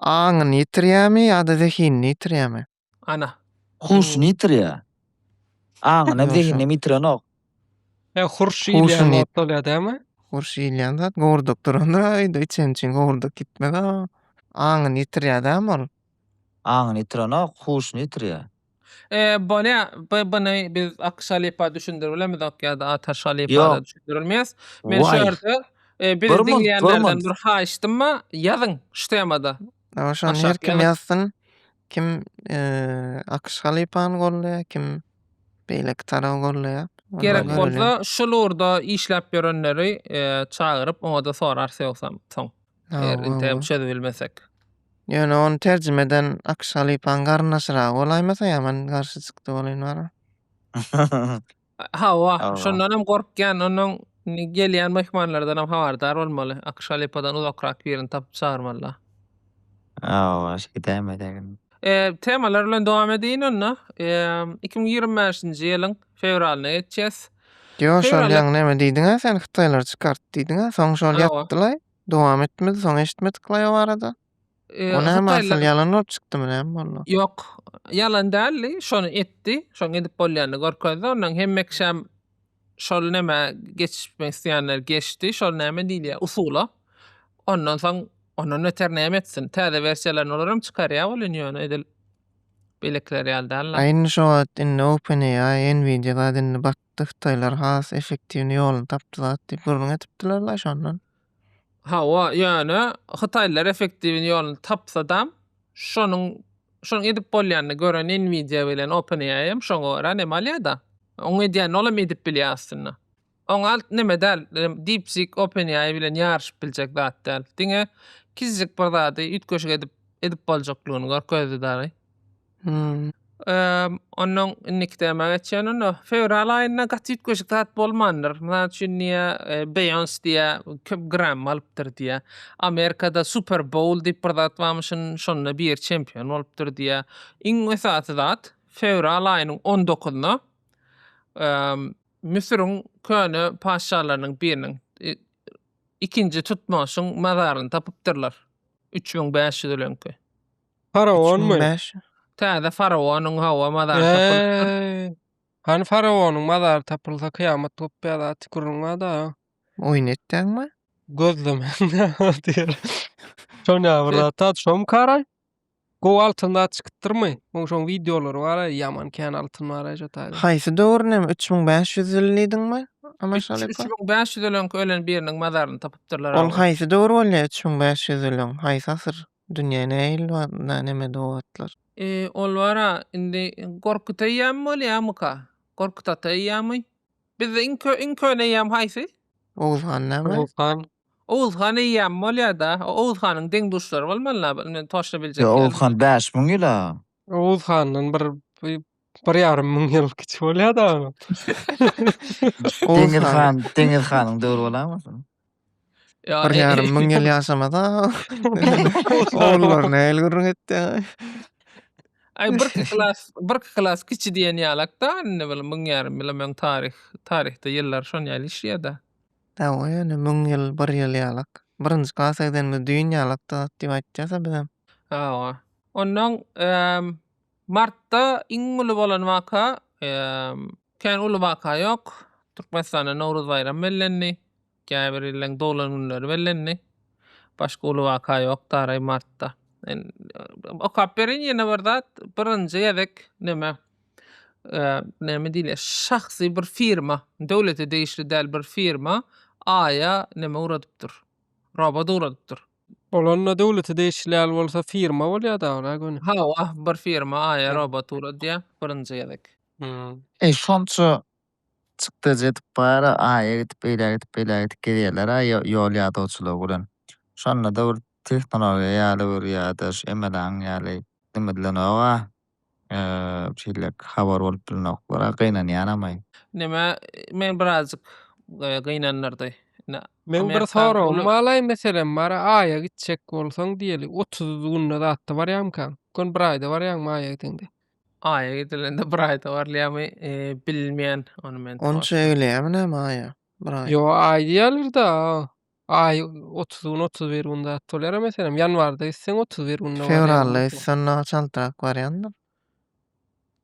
Aňyny ýitirýärmi ýa-da zehinini ýitirýärmi? Ana. Huşuny ýitirýär. Aňyny hem, zehinini hem ýitirenok. Ýa hurş iýilýän zat bolýar dämi? Hurş iýilýän zat gowurdap durandyr-a öýde içen üçin gowurdap gitmez-a. Aňyny ýitirýär dämi ol? Aňyny ýitirenok, huşuny ýitirýär. Eee bolýa by byny biz Akyş halypa düşündirbilemizok ýa-da Ataş halypara Ýok. düşündirilmeýäs. Men şu Waý. ýerde eee bizi Durmaz, diňleýänlerden durmaz. bir haýyştym bar, ýazyň şu temada. Ýa şony Aşak her kim ýazyň. ýazsyn. Kim eee Akyş halypany goldaýar, kim beýleki taraby goldaýar. Onda Gerek görelim. bolsa şul ugurda işläp ýörenleri eee çagyryp oňada sorarys ýogsam soň. Eger interim çözüp bilmesek. Ýöne ony terjime eden Akş halypaň garyndaşyragy bolaýmasa ýa men garşy çykdy bolaýyn barybir. Hawa, şondan hem gorkýan, ondan gelýän myhmanlardan hem habardar bolmaly. Akş halypadan uzakrak birini tapyp çagyrmalylar. Hawa, şeýdäýem edeliň. Temalar bilen dowam edeýin onda. Iki müň ýigrimi bäşinji ýylyň fewralyna geçýäs. Yo şol ýaňy näme diýdiňä sen hytaýlar çykart diýdiňä soň şol ýatdylaý dowam etmedi soň eşitmediklaý o barada. O näme asyl ýalan bolup çykdymy näme boldy? Ýok ýalan däldi şony etdi şoň edip bolýanyny görkezdi ondan hemme kişäm şol näme geçmek isleýänler geçdi şol näme diýilýär usula ondan soň ondan beter näme etsin täze wersiýalaryny olaram çykarýar welin ýöne edil Beýlekiler ýaly däl-le. Aýna şo wagt indi OpenAI, Nvidia zat indi batdy, hytaýlar has efektiwny ýoluny tapdy zat diýip gürrüň edipdiler-la şondan. Hawa, ýöne hytaýlar efektiwny ýoluny tapsadam, şonuň şonuň edip bolýanyny gören Nvidia bilen OpenAI hem şoňa görä näme alýa-da. Onuň edýänini ol hem edip bilýä aslynda. Oňalt neme däl, DeepSeek OpenAI bilen ýaryşyp biljek zat däl. Diňe kiçijik bir zady üýtgeşik edip edip boljaklygyny görkezdi dagy. Hmm. Eee, ondan indiki tema geçýän onda. Fewral aýynda gaty üýtgeşik zat bolmandyr. Mysal üçin diýä, e, Beyoncé diýä, köp Grammy alypdyr diýä. Amerikada Super Bowl diýip bir zat barmyşyn, şonda biri çempion bolupdyr diýä. Iň esasy zat, fewral aýynyň on dokuzynda, eee, Müsüriň köne patyşalarynyň biriniň, ikinji Tutmoşyň mazaryny tapypdyrlar. Üç müň bäş ýüz ýylyňky. Faraonmy? Täze faraonyň hawa mazary tapylypdyr. Hany faraonyň mazary tapylsa kyýamat gopýar zat gürrüňada. Oýun etdäňmi? Gözlemäňde diýer. Şonýa bir zat, şomy karaý? Gowy altyn zat çykypdyrmy? Oň şoň wideolary bar a ýaman kän altyn bar a şo taýda. Haýsy döwür näme üç müň bäş ýüz ýyl diýdiňmi? Üç üç müň bäş ýüz ölenki ölen biriniň mazaryny tapypdyrlar a. Ol haýsy döwür bolýa üç müň bäş ýüz ýyl öň haýsy asyr dünýä näme ýyl bar na näme do wagtlar. E ol bar a indi gorkut eýýamy bolýamyka gorkut ata eýýamy bizde iň iň köne eýýam haýsy? Oguz han näme? Oguz han Oguz han eýýäm bolýada. Oguz hanyň deň-duşlary bolmaly la indi toşla biljek ýaly. Ýok Oguz han bäş müň ýyl a. Oguz handan bir bir ýarym müň ýyl kiçi bolýada. Deňiz han Deňiz hanyň döwri bolamyka. Bir ýarym müň ýyl ýaşamada. Ogullar nähili gürrüň etdi. Aý bir klas bir klas kiçi diýen ýalakda indi bir müň ýarym ýyl öň taryh taryhda ýyllar şon ýaly işleýada. Hawa ýöne müň ýyl bir ýyl ýalak. Birinji klasa gidenimiz düýn ýalakdy zat diýip aýtýasa bizem. Hawa. Onnoň martda iň uly bolan waka kän uly waka ýok. Türkmenistanda Nowruz baýramy bellendi. Käbir illeň doglan günleri bellendi. Başga uly waka ýok daraý martda. Okap berin ýene bir zat birinji gezek neme näme diýilýär, şahsy bir firma, döwlete degişli däl bir firma Aýa näme ugradypdyr, robot ugradypdyr. Bolanda döwlete degişli däl bolsa firma bolýar dagyra göni. Hawa, bir firma Aýa robot ugradýar birinji gezek. Eý, şonça çykdajy edip bar, Aýa gidip, beýle gidip, beýle gidip gezýärler-ä ýol ýadawçylygy bilen. Şonda-da bir tehnologiýa ýaly bir ýa-da şu MLA-nyň ýaly neme diýlenogag-a, Şeýlelik habar bolup bilinoklara gynanýanamaý. Neme meni birazjyk gynandyrdy. Meň bir soragym balaý meselem bar aýa gitjek bolsaň diýeli otuz günde zatda barýamykaň ykon bir aýda barýaňmy aýa gideňde. Aýa gidilende bir aýda barylýamy bilmýän ony men. Onça egleýämi näme aýa bir aý. Ýo aý diýýälerda Aý otuz gün, otuz bir gün zat bolýar-a meselem, ýanwarda gitseň otuz bir günde barýar. Fewralda gitseň ondan çaltrak barýandyr.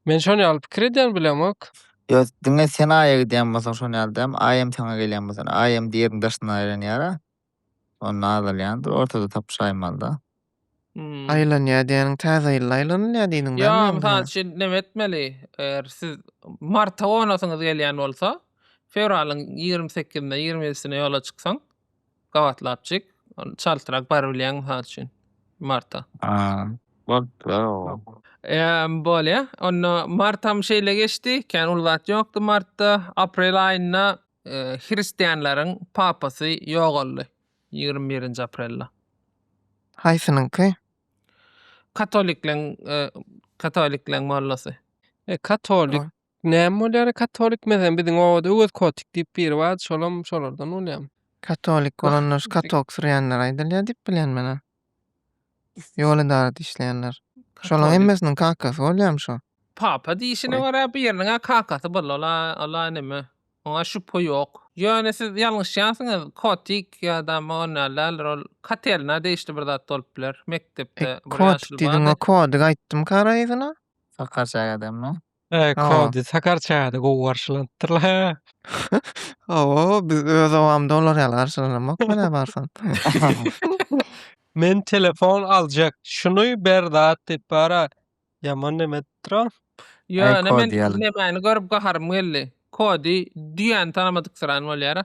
Men şon ýaly pikir edýän bilemok. Ýok, diňe sen Aýa gidýän bolsaň şon ýaly däl, Aý hem saňa gelýän bolsa, Aý hem diýeriň daşyndan aýlanýar-a. Onda azalýandyr, ortada tapyşaýmaly-da. Hmm. Aýlanýar diýeniň täze ýylda aýlanylýar diýdiň Ýa, bämi mysal ýa-da? üçin näme etmeli? Eger siz marta gonasyňyz gelýän bolsa, fewralyň ýigrimi sekizine, ýigrimi ýedisine ýola çyksaň, gabatlapjyk, ol çaltrak bar bilýäň mysal üçin marta. A, bolupdyr-a o. Emm, bolýa. Onda martam şeýle geçdi, kän uly zat ýokdy martda. Aprel aýynda e, hristianlaryň papasy ýogaldy. Ýigrimi birinji aprelde. Haýsynyňky? Katolikleň katolikleň mollasy. E katolik näme bolýar e katolik mezem biziň obada öwez kotik diýip biri bardy şolam şolardan bolýamy. Katolik bolanlar şu katoksyrýanlar aýdylýar diýip bilýän men ony. Ýol edarada işleýänler. Şolaň hemmesiniň kakasy bolýamy şo? Papa diýişine görä biriniňä kakasy boldy ola ola neme oňa şübhe ýok. Ýöne siz ýalňyşýansyňyz kotik ýada on ýaly däldir ol katerina degişli bir zat bolup biler mekdepde bir ýaşuly bardy. Kotik diýdiň o kodik aýtdym kara yzyna. Sakarçäk adamlar. Eee, Hawa. Kowdy, Sakar çaýda gowy garşylandypdyrlar. Hawa, biz öz obamda olar ýaly garşylanamok menä barsam. Men telefon aljak. Şuny ber zat diýip bara. Ýaman neme edipdir-ow. Ýo, Aý, ine men Kowdy ýaly. nemäni görüp gaharym geldi. Kowdy düýäni tanamadyk syrany bolýar-a.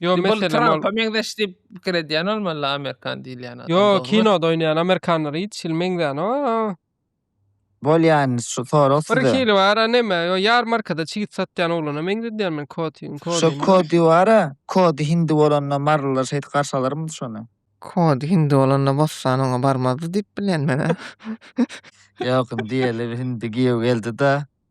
Yo Bol meselem Trumpa ol. meňzeş diýip pikir edýän bolmaly amerikan diýilýän adam. Yo dogrymy? kinoda oýnaýan amerikanlara hiç hili meňzänok. a. Bolýan şu sorag Bir size. hili bar a neme yo ýarmarkada çigit satýan oglana meňzedýän men koti kodi. Şu kodi bara, kodi hindi bolanda marylylar şeýdip garşy alarmydy şony? Kod hindi bolanda bossan oňa barmazdy diýip bilýän men. Ýok indi ýeli hindi giýew geldi-de.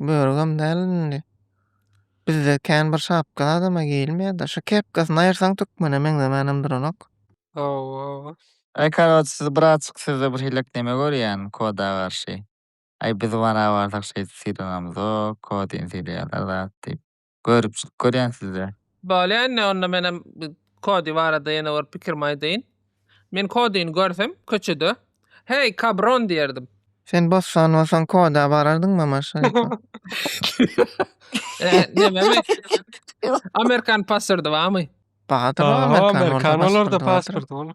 Börügem däl indi. Bizde kän bir şapka adama geýilmeýärdi. Şu kepkasyny aýyrsaň türkmene meňzemänem duranok. Hawa. Aý karoç siz bratjyk sizde bir hilek neme görýän koda garşy. Aý biz wana barsak şeýdip sylanamzok kodini sylaýarlar zat diýip. Görüpjik görýän sizde. Bolýa indi onda menem Kodi barada ýene bir pikirimi aýdaýyn. Men Kodini görsem köçede Heý kabron diýerdim. Sen bossan bolsaň Koda barardyňmy aman şaýka. Eee nememi? Amerikan paswrdy bamy? Bardyr o amerikan bolsa pasporty bardyr.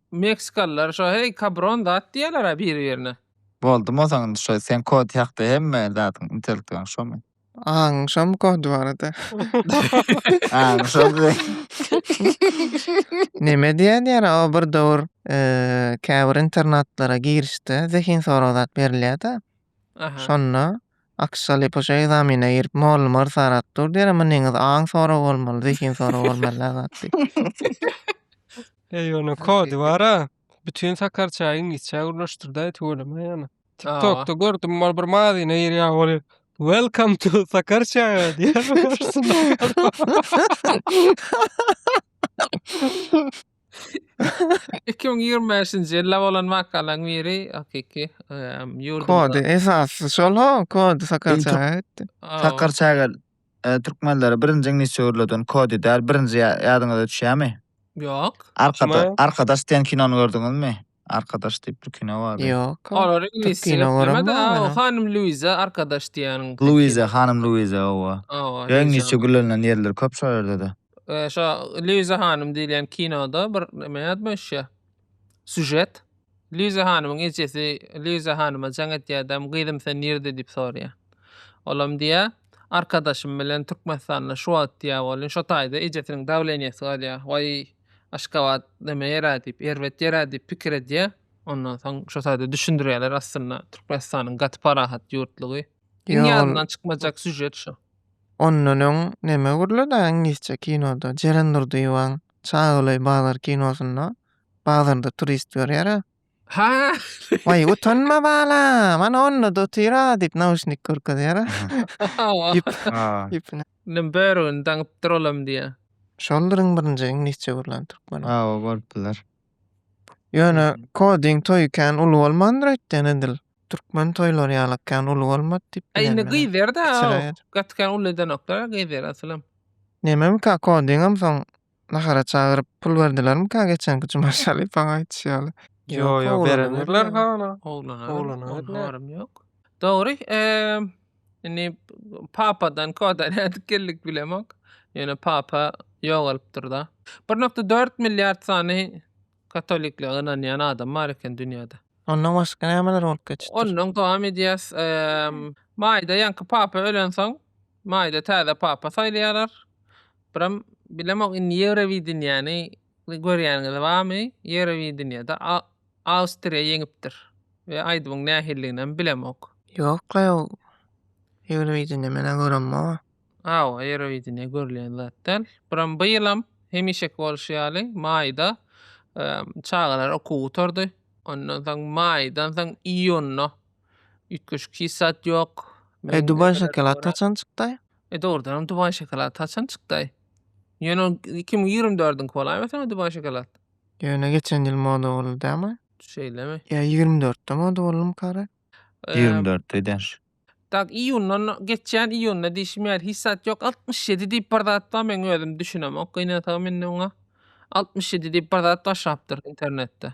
Meksikalylar şo heý kabron zat diýerlera biri birine. Boldy mosaň indi şo seň kod hakda hemme zadyň intellektuaň şomy. Aňyň şomy kod barada. Aňy şo diýdi. Neme diýýä diýýär o bir dowur käbir internatlara girişde zehin sorag zat berilýä-de Aha. Şonda Aksaly poşa egzamine girip mugallym ors arap dur diýer, emma neňiz aň sorag bolmaly, zehin sorag bolmaly la zat diýip. Eý ony kody bara. Bütün sakarça iňlisçe gürleşdirdi tüweleme ýana. TikTokda gördüm bar bir mazyna girýär ol Welcome to Sakarça diýýär. Iki müň ýigrimi bäşinji ýylda bolan wakalaň biri hakyky ýurdumyza. Kody esasy şol ho, kody sakar çaga gitdi. Sakar çaga türkmenlere birinji iňlisçe öwrüleden kody däl, birinji ýadyňyza düşýämi? Ýok. Arkadaş diýen kinony gördüňizmi? Arkadaş diýip bir kino bardy. Ýok. Olary iňlis diýip ýöplemedi. O hanym Luiza arkadaş diýýäniň. Luiza, hanym Luiza, hawa. Ýa iňlisçe gürlenilen ýerleri köp şo ýerde-de. Şo Luiza hanym diýilýän kinoda bir näme ýadmyş. Sujet. Luiza hanymyň ejesi Luiza hanyma jaň etýärdem, gyzym sen nirde diýip soraýar. Olam diýýär, arkadaşym bilen Türkmenistanda şu wagt diýýär bolýan. Şo taýda ejesiniň dawleniýesi galýar. Waý. Aşgabat näme ýere diýip, erbet ýere diýip pikir edýär. Ondan soň şo taýda düşündirýärler aslynda Türkmenistanyň gaty parahat ýurtlugy. Iň Ýol- ýadyndan çykmajak sýužet şu. Ondan öň näme gürledi iňlisçe kinoda? Jeren Durdyýewaň Çagöleý bazar kinosynda bazarda turist görýär-ä. Ha. Waý, utanma balam. Ana onda da otyr-a diýip nauşnik görkezýär. Ýüp. Ha. Ýüpüne. Nim börügini daňypdyr olam diýýär. Şolduryň birinji iňlisçe gürlän türkmeni. Hawa, bolup biler. Ýöne kodiň toýy kän uly bolmandyr öýtýän edil. Türkmen toýlary ýalak kän uly bolmady diýip Aý indi bilenmene. gyz ýerde-ä. Kiçiräk. Gaty kän uly edenoklar-a gyz ýer asylam. Nememikä kodiňem soň nahara çagyryp pul berdilermika geçenki juma şalypaň aýdyşy ýaly. Ýo ýo berendirler hala. Oglana oglana habarym ýok. Dogry indi papadan koda nädip geldik bilemok. Ýöne papa ýogalypdyrda. Bir nokta dört milliard sany katoliklige ynanýan adam bar eken dünýäde. Ondan başga nämeler bolup geçipdir? Ondan dowam edýäs. Maýda ýaňky papa ölensoň Maýda täze papa saýlaýarlar. Biram bilemok indi Ýewrowideniýäni görýäniňiz barmy? Ýewrowideniýede Awstriýa ýeňipdir we aýdymyň nähilidiginem bilemok. Ýok-la ýok. Ýewrowideniýa men-ä göremog-a. Hawa, Ýewrowideniýa görülýän zat däl. Biram bu ýylam hemişeki bolşy ýaly maýda çagalar okuw gutardy. Ondan soň maýdan soň iýunda Üýtgeşik hiç zat ýok. E Dubaý şokolady haçan çykdaý? E dogrudanam Dubaý şokolady haçan çykdaý? Ýöne ol iki müň ýigrimi dördüňki bolaýma sen o Dubaý şokolad? Ýöne geçen ýyl moda boldy dämi? Şeýlemi? Ýa ýigrimi dörtde moda boldumykary? Ýigrimi dörtde daş. Tak iýunda geçýän iýunda diýşim ýaly hiç zat ýok. Altmyş ýedi diýip bir zat bar meň özüm düşünemok. Gynansagam indi oňa. Altmyş ýedi diýip bir zat başlapdyr internetde.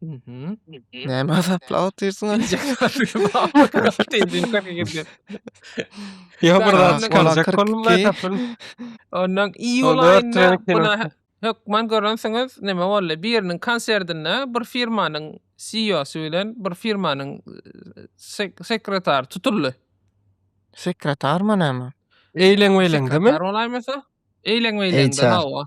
Mhm. Näme azaplap otyrsyň? Ýa bir zat çykarjak bolma tapyn. Ondan iýul Onda aýynda ötüreni kino. buna hökman görensiňiz nime boldy? Biriniň konsertinde bir firmanyň CEO-sy bilen bir firmanyň e, sek- sekretary tutuldy. Sekretarmy näme? Eýleň-beýleň demi? Sekretar bolaýmasa? Eýleň-beýleňde HR. hawa.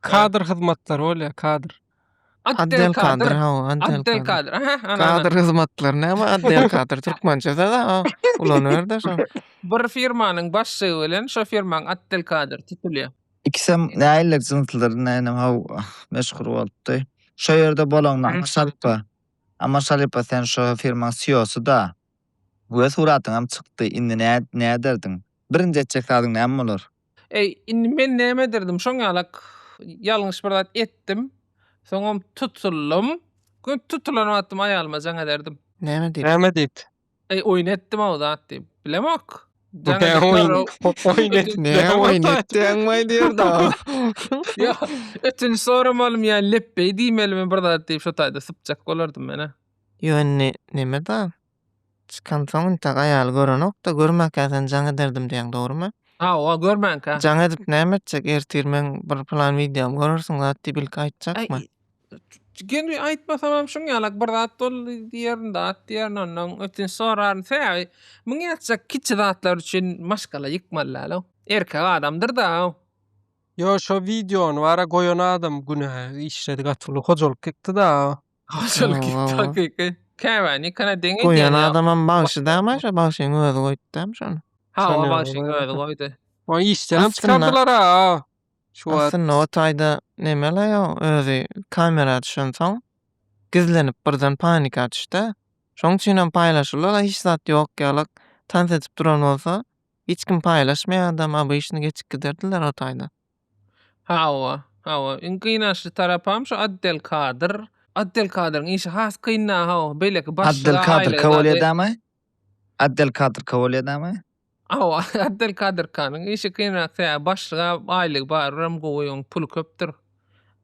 Kadr hyzmatlary bolýar, kadr. Atdel kadr, hawa, atdel kadr. Kadr hyzmatlary näme atdel kadr türkmençe söz-ä o. Ulanyberdi şo. Bir firmanyň başlygy bilen şo firmaň atdel kadr tutulýar. Ikisem näiller jynslydyr, nänem haw meşhur bolupdy. Şo ýerde bolan Amar Şalypa. Amar Şalypa sen şo firmaň CEO-sy-da. We suratyňam çykdy. Indi nä näderdiň? Birinji etjek zadyň näme bolar? Eý, indi men näme ederdim, şoň ýalak ýalňyş bir zat etdim, soňam tutuldym. Gün tutulan wagtym aýalyma jaň ederdim. Näme diýip? Näme diýip? Eý, oýun etdim-ow zat diýip. Bilemok. Jaň edip görüp. Näme oýun etdiň maý diýerdi. Ýa, ötünç soramalym ýa lepbeý diýmelimi bir zat diýip şo taýda sypjak bolardym men-ä. Ýöne näme-da? Çykansoň intek aýaly görenokda görmänkä seni jaň ederdim diýýäň dogrymy? Hawa görmänkä. Jaň edip näme etjek ertir meň bir plan wideom görersiň zat diýip ilki aýtjakmy? Gelin aýtmasamam şuň ýalak bir zat bol diýerin zat diýerin ondan ötünç soraryn sebäbi muňa etjek kiçi zatlar üçin maşgala ýykmaly dälow erkek adamdyrdaw. Ýo şo wideony bara goýan adam günä işledi gaty uly hojalyk ýykdyda. Hojalyk Oho. takyky. Käbäni kana deňe Goýan diýen ýok. adamam bagşy dämi şo bagşyň özi goýupdy dämi şony. Ha, o Şondan bagşyň goýan özi eken. goýdy. Ony işden hem Aslynda- çykardylar ha. Şu wagt. Aslynda o taýda nemele ýa özi kamera düşünsoň gizlenip birden panika düşdä. Şoň üçinem paýlaşylar hiç zat ýok ýalak tans edip duran bolsa hiç kim paýlaşmaýardam obyşny geçip giderdiler o taýda. Hawa, hawa. Iň gynançly tarapam şu Addelkadyr. Addelkadyryň işi has kynda, hawa. Beýleki başlyga aýlygy Addelkadyr Kowalýadamy? Addelkadyr Kowalýadamy? Hawa, Addelkadyrkanyň işi kynrak, sebäbi başlyga aýlygy bar, olam gowy, oň puly köpdür.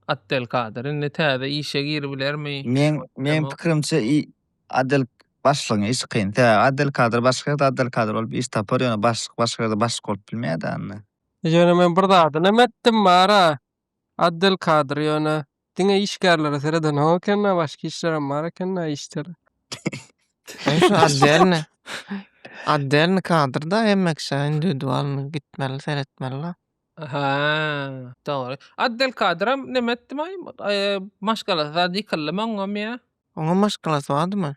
Addelkadyr indi täze işe giribilermi? Meň, meň pikirimçe i, Addel, başlygyň işi kyn. Sebäbi Addelkadyr başga ýerde Addelkadyr bolup iş tapar, ýöne başlyk başga ýerde başlyk bolup bilmeýär-dä indi. Ýöne men bir zadynam etdim bar-a, Abdelkadyr, ýöne diňe işgärlere seredenok eken-ä, başga işlerem bar eken-ä, işçiler. Eý, şu otdelny, otdelny kadrda hemme kişä indiwidualny gitmeli, seretmeli-la. Hä, dogry. Abdelkadyram neme etdim-aý, maşgalasy zat ýykyldymy oňam ýa? Oňam maşgalasy bardymy?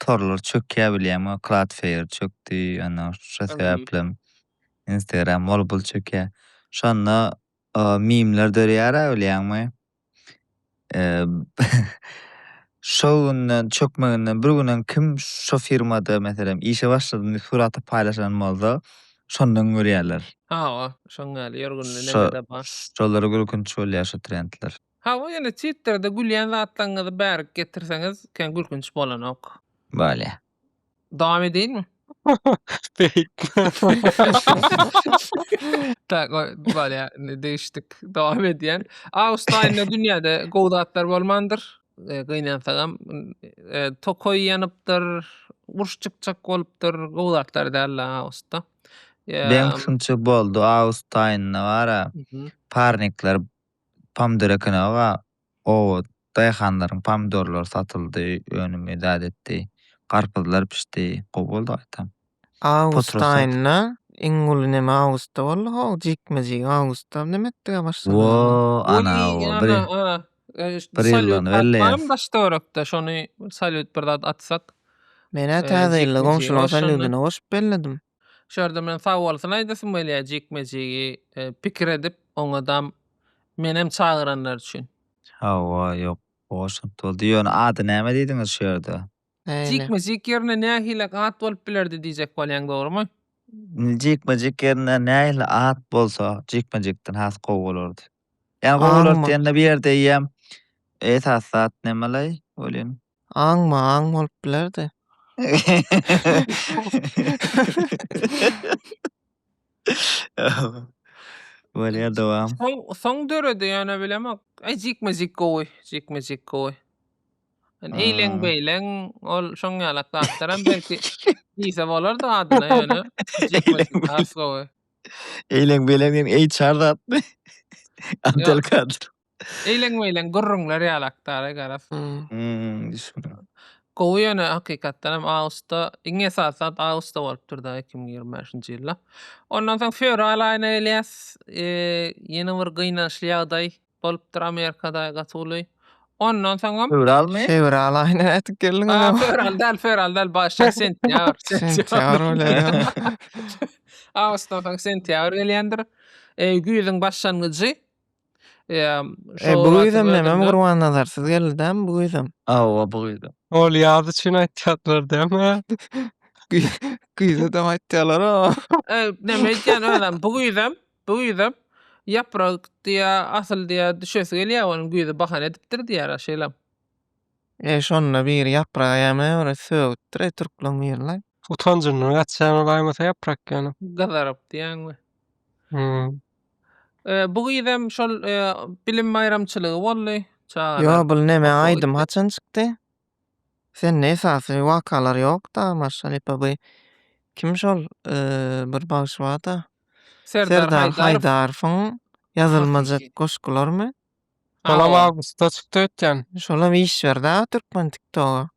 torlar çökýär bilýäňmi? Cloudflare çökdi, ýöne şo sebäplem Instagram mol-bul çökýär. Şonda mimler dörýär-ä bilýäňmi? Şo günden çökmeginden bir gün öň kim şo firmada meselem işe başladym diýip suraty paýlaşan bolsa, şondan görýärler. Hawa, şoň ýaly ýörgünli nämedir bar. Şolara gülkünç bolýar şo trendler. Hawa ýöne Twitterda gülýän zatlaňňyzy bärik getirseňiz kän gülkünç bolanok. Bolýa. Dowam edeýinmi? Tak o bolýa indi degişdik dowam edýän. Awgust aýynda dünýäde gowy zatlar bolmandyr. Gynansagam tokaý ýanypdyr, uruş çykjak bolupdyr, gowy zatlar däldi awgustda. Deň şunça boldy awgust aýynda bara parnikler Pomidor eken aga. Oba daýhanlaryň pomidorlary satyldy, önüm edad etdi. Garpyzlar pişdi, gowy boldy gaýtam. Awgustaýynda iň uly neme awgustda boldy how jikme-jik awgustda neme etdige başlanyny. Woo anaoo bir bir ýyllygyny belleýäs. Daş töwrekde şony salýut bir zat atsak. Menä täze ýylda goňşulaň salýudyna goşup belledim. Şu ýerde men sag bolsun aýdasym gelýär jikme-jigi pikir edip oňadam menem çagyranlar üçin. Hawa ýok boşluk doldy ýöne ady näme diýdiňiz şu ýerde. Jikme-jik ýerine nähili at bolup bilerdi diýjek bolýaň dogrymy. Jikme-jik ýerine nähili at bolsa jikme-jikden has gowy bolardy. Ýa gowy bolardy diýende bu ýerde eýýäm esasy zat nemeleý welin. Aňma aň bolup bilerdi. Bolýar dowam. Soň soň döredi ýöne bilemok. Eý jikme-jik gowy, jikme-jik gowy. Ýöne Hmm. eýleň beýleň ol şoň ýalak zatlaram belki diýse bolardy adyna ýöne jikme-jik has gowy. Eýleň beýleň diýen HR zatmy? Abdelkadir. Eýleň-meýleň gürrüňler ýaly akdary garaz. Hmm, düşündim. Gowy ýöne hakykatdan hem awgusta, iň esasy zat awgusta bolupdyr-da iki müň ýigrimi bäşinji ýylda. Ondan soň fewral aýyna gelýäs, ýene bir gynançly ýagdaý bolupdyr Amerikada gaty uly. Ondan soňam. Fewralmy? Fewral aýyna ätip geldiň. Ha, fewral däl, fewral däl, başda sentýabr. Sentýabr bilen. Awgustdan soň sentýabr gelýändir. Güýzüň başlangyjy. Eee, E, bu güýzem näme Gurbannazarsyz geldi dämi bu güýzem? Hawa, bu güýzem. Ol ýaz üçin aýtýarlar dämi? Güýzedem aýtýarlar o. E, näme aýtýan özem bu güýzem, bu güýzem ýaprak diýä, asyl diýä düşesi gelýär onuň güýzi bahana edipdir diýýärler şeýlem. E, şonda biri ýapraga ýa-me bir sögüpdir e, türkleriň biri-le. Utanjyndan gaçýaňmy baýmasa ýaprak ýanym. Gyzaryp diýýäňmi? Hum. Bu gyzam şol bilim baýramçylygy boldy. Çagalar. Ýo bul neme aýdym haçan çykdy? Sende esasy wakalar ýokda maşallypa by kim şol bir bagşy barda Serdar Haýdarowyň ýazylmajak goşgularmy? Şolam awgustda çykdy ötýän. Şolam iş berda türkmen tiktoga.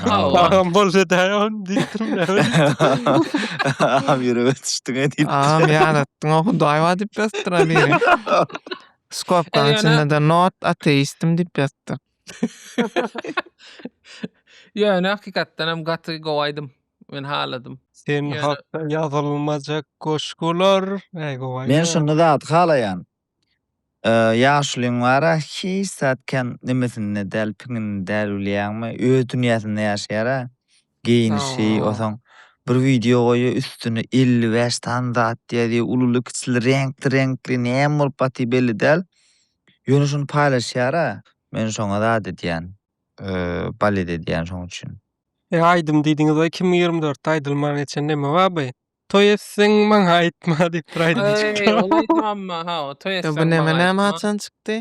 Agam bolsa daýy on diýdim ya. Agam ýürege düşdüň edip. Agam ýadatdyň o hudaý bar diýip ýazdyr ha biri. Skopkaň Ýöne- içinde de not ateistim diýip ýazdy. Ýöne hakykatdan hem gaty gowy aýdym. Men haladym. Sen Ýöne- hakda ýazylmajak goşgular. Äý gowaý. Men şuny zat halaýan. Ýaşulyň bar-a, hiç zat kän nemesinde däl, piňinde däl bilýäňmi? Öz dünýäsinde ýaşaýar-a. Geýinişi, Hawa. osaň bir wideo goýýar, üstüne elli bäş sany zat ýazýar, ululy-kiçili, reňkli-reňkli, näme bolup gaty belli däl. Ýöne şuny paýlaşýar-a. Men şoňa zat edýän, balet edýän şoň üçin. Eý aýdym diýdiňiz-aý iki müň ýigrimi dörtde aýdylman geçen neme bar by? Toý etseň maňa aýtma diýip bir aýdym çykdy. Eý, ol aýdym amma hawa, toý etseň maňa aýtma. Bu näme näme haçan çykdy?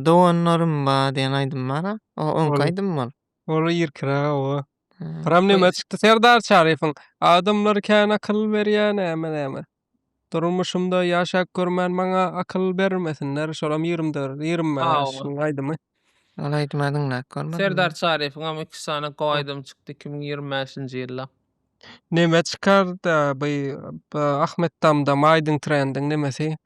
Doganlarym ba diýen aýdym bara. O oňki aýdym ol. Ol irkiräk oba. Pyram näme çykdy Serdar Çaryýewiň adamlar kän akyl berýä näme näme. Durmuşymda ýaşap görmän maňa akyl bermesinler şolam ýigrimi dört ýigrimi bäş ylyň aýdymy. Ol aýdymy diňläp görmedim. Serdar Çaryýewiňem iki sany gowy aýdymy çykdy iki müň ýigrimi bäşinji ýylda. Neme çykarda bu Ahmet Damdam aýdyň trendiň nemesi?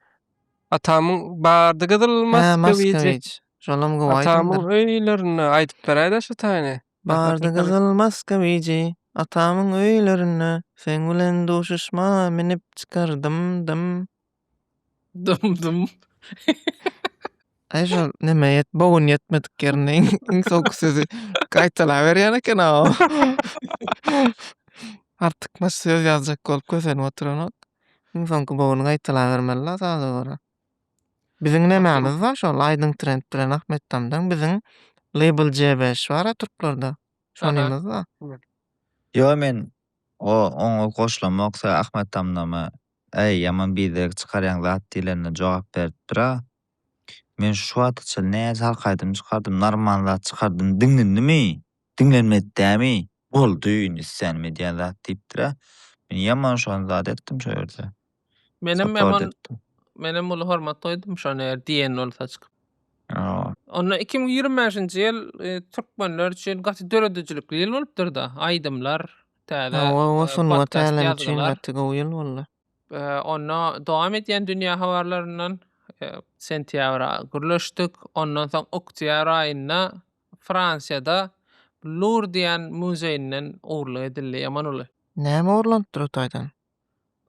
Atamyň bardy gyzyl maskawiji. Şolam gowy aýdymdyr. Atamyň öýlerinde aýdyp beräýdä şu taýny. Bardy gyzyl maskawiji. Atamyň öýlerinde seň bilen duşuşma minip çykardym dym. Dum dum. Aýşa näme ýet, bogyn ýetmedik ýerinde iň soňky sözi gaýtalaberýän eken aw. Artykmaç söz ýazjak bolup kösenip oturanok. Iň soňky bogyny gaýtalabermeli-la saza görä. Biziň nämämiz bar şol Aýdyň Trend bilen Ahmet Tamdan biziň label J beş bar-a türklerde. Şonymyz bar. Ýo men o oňa goşulamok se Ahmet Tamdama Äý, ýaman biderek çykarýaň zat diýlenine jogap beripdir-ä. Men şu wagta çenli näçe halk aýdymy çykardym, narman zat çykardym, diňlenimi? Diňlenmedi dämi? Boldy, indi islänim edýän zat diýipdir-ä. Men ýaman şony zat etdim şo ýerde. Menem ýaman etdim. Menem uly hormat goýdum şony eger diýen bolsa çykyp. Onda iki müň ýigrimi bäşinji ýyl türkmenler üçin gaty döredijilikli ýyl bolupdyr-da, aýdymlar, Täze podcast ýazgylar. Onda dowam edýän dünýä habarlaryndan sentýabra gürleşdik. Ondan soň oktýabr aýynda Fransiýada Lur diýen muzeýinden ogurlyk edildi, Ýaman uly. Näme ogurlanypdyr o taýdan?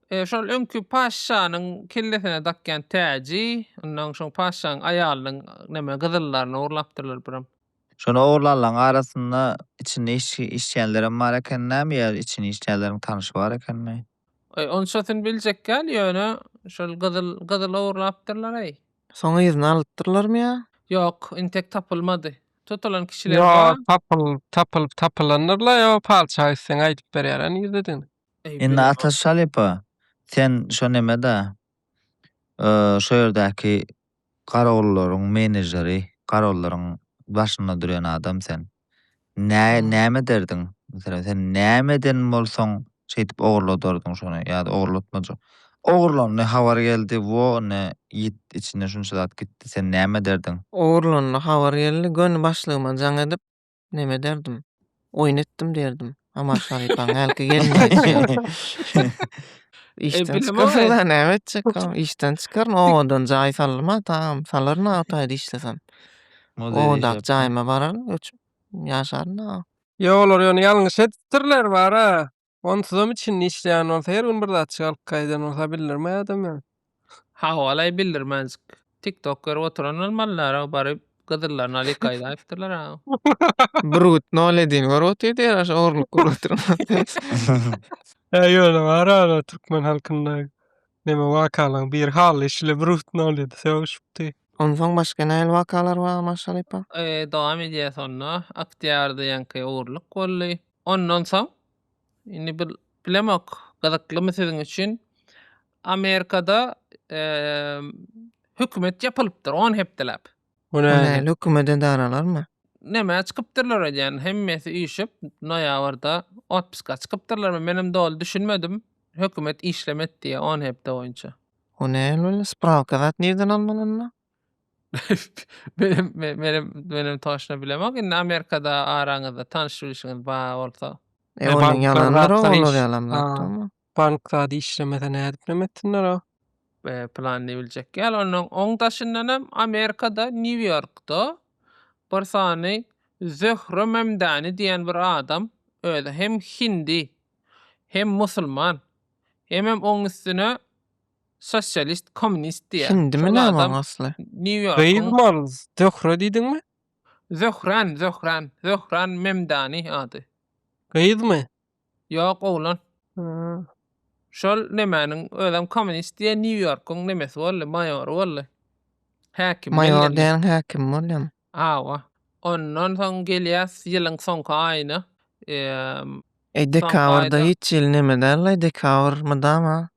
Şol öňki patyşanyň kellesine dakýan täji, ondan soň patyşanyň aýalynyň neme gyzyllaryny ogurlapdyrlar birem. Şony ogurlanlaryň arasynda içinde işleýänlerem bar eken näme ýa içini işleýänleriň tanyşy bar ekenmi? Eý, onçasyny biljek ýaly, ýöne şol gyzyl, gyzyl ogurlapdyrlar-eý. Soň yzyna alypdyrlarmy ýa? Ýok, intek tapylmady. Tutulan kişiler bar. Ýok, tapylyp, tapylyp, tapylandyr-la, ýa patyşa gitseň aýdyp berýär, ýa nirededigini. Indi Ataş Şalypa, sen şo neme-da, şo ýerdäki garawullaryň menejeri, garawullaryň başynda durýan adam sen. Nä, näme ederdiň? Meselem, sen näme eden bolsaň, şeýdip ogurladardyň şony ýa-da ogurlatmajak. Ogurlandy, habar geldi, wo, ine, ýit içinde şunça zat gitdi, sen näme ederdiň? Ogurlandy, habar geldi, göni başlygyma jaň edip, neme ederdim? Oýun etdim derdim. Amar Şarypaň hälki gelmedi. Işden e, çykarlar, näme etjek? Işden çykaryn, owadan jaý salma, tamam, salaryn awtaýda işlesem. Owadak jaýyma bararyn, göçüp ýaşaryn. Ýok, olar ýöne ýalňyş etdirler bara. Onsuzam içinde işleýän bolsa her gün bir zat çykaryp gaýdan bolsa bildirmay adam ýaly. Hawalaý bildirmezjik. Tik tok görüp oturan bolmalylar-a baryp gyzyllaryny alyp gaýdaýypdyrlar-a. Bürgüt noledini görüp otyrdy ýaraşa ogurlyk görüp oturan. Hä ýöne bar aga türkmen halkynda neme wakalaň bir haly şile bürgüt noledi sögüşipdi. Onsoň başga nähili wakalar bar Maşalypa? Dowam edýäs onda. Oktýabr diýenki ogurlyk boldy. Ondan soň, indi bil, bilemok, gyzyklymy siziň üçin, Amerikada hökümet ýapylypdyr on hepdeläp. Günäli hökümet edaralarmy? Nämä çykypdyrlar öýdýän, hemmesi üýşüp, noýabrda otpuska çykypdyrlarmy, menem doly düşünmedim, hökümet işlemedi diýýär on hepde boýunça. O nähili bolýar, sprawka zat nirden almaly onda? Menem menem menem toşna bilemok. Indi Amerikada araňyzda tanyş bilişiňiz ba bolsa. E, e onuň ýalandyr olar ýalan zatdyrmy? Bank zady işlemese nädip näme etsinler o? E, planyny biljek ýaly. Onuň oň daşyndan hem Amerikada Nýu-Ýorkda bir sany Zöhre Memdani diýen bir adam özi hem hindi hem musulman hemem oň üstüne Sosialist, kommunist diýýär. Hindimi Şol näme adam oň asly? Nýu-Ýorkuň Gyz-malz, Zöhre diýdiňmi? Zöhran, Zöhran. Zöhran Memdani ady. Gyzmy? Ýok, oglan. Hä. Şol nemäniň, özem kommunist diýýär, Nýu-Ýorkuň nemesi boldy, maýory boldy. Häkimi Maýor geldi. diýeniň häkimi bolýamy? Hawa. Ondan soň gelýäs ýylyň soňky aýyna. Eee, Eý, Soňky dekabr-da aýda- hiç ýyl neme däl-laý, dekabr mydama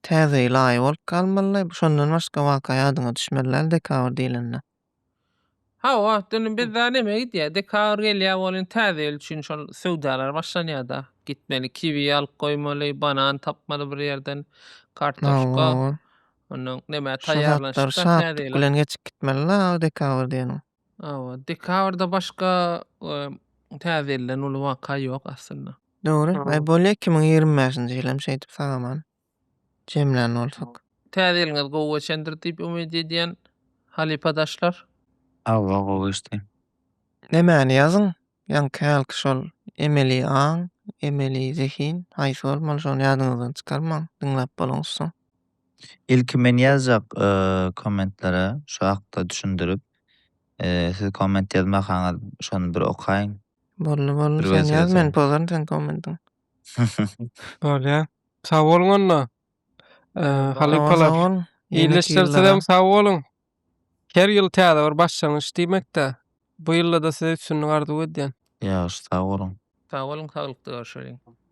Täze ýyla aý bolup galmaly, şondan başga waka ýadyňa düşmeli däl dekabr diýlende. Hawa, indi bizde näme gidýär, dekabr gelýär welin täze ýyl üçin şol söwdalar başlanýar-da. Gitmeli, kiwi alyp goýmaly, banan tapmaly bir ýerden, kartoşka. Ondan näme taýýarlanyşyp-da täze ýyla. Şo zatlar şatlyk bilen geçip gitmeli-la dekabr diýeniň. Hawa, dekabrda başga Täze ýyldan uly waka ýok aslynda. Dogry. Aý bolýa iki müň ýigrimi bäşinji ýyl hem şeýdip sagaman jemlän bolsak. Täze ýylyňyz gowy geçendir diýip umyt edýän halypadaşlar. Hawa gowy geçdi. Nämäni ýazyň Ýaňy kälki şol emeli aň, emeli zehin haýsy bolmaly şony ýadyňyzdan çykarmaň diňläp boluň soň. Ilki men ýazjak kommentlere şu hakda düşündirip siz komment ýazmakaňyz şony bir okaýyň. Boldy boldy sen ýaz men pozaryn seň kommentiňi. Bolýa. Sag boluň onda. Halypalar. Ýene ýyl Ýylyşdyrsizem sag boluň. Her ýyl täze bir başlangyç diýmekdä. Bu ýylda-da size üstünlik arzuw edýän. Ýagşy sag boluň. Sag boluň saglykda görşeliň.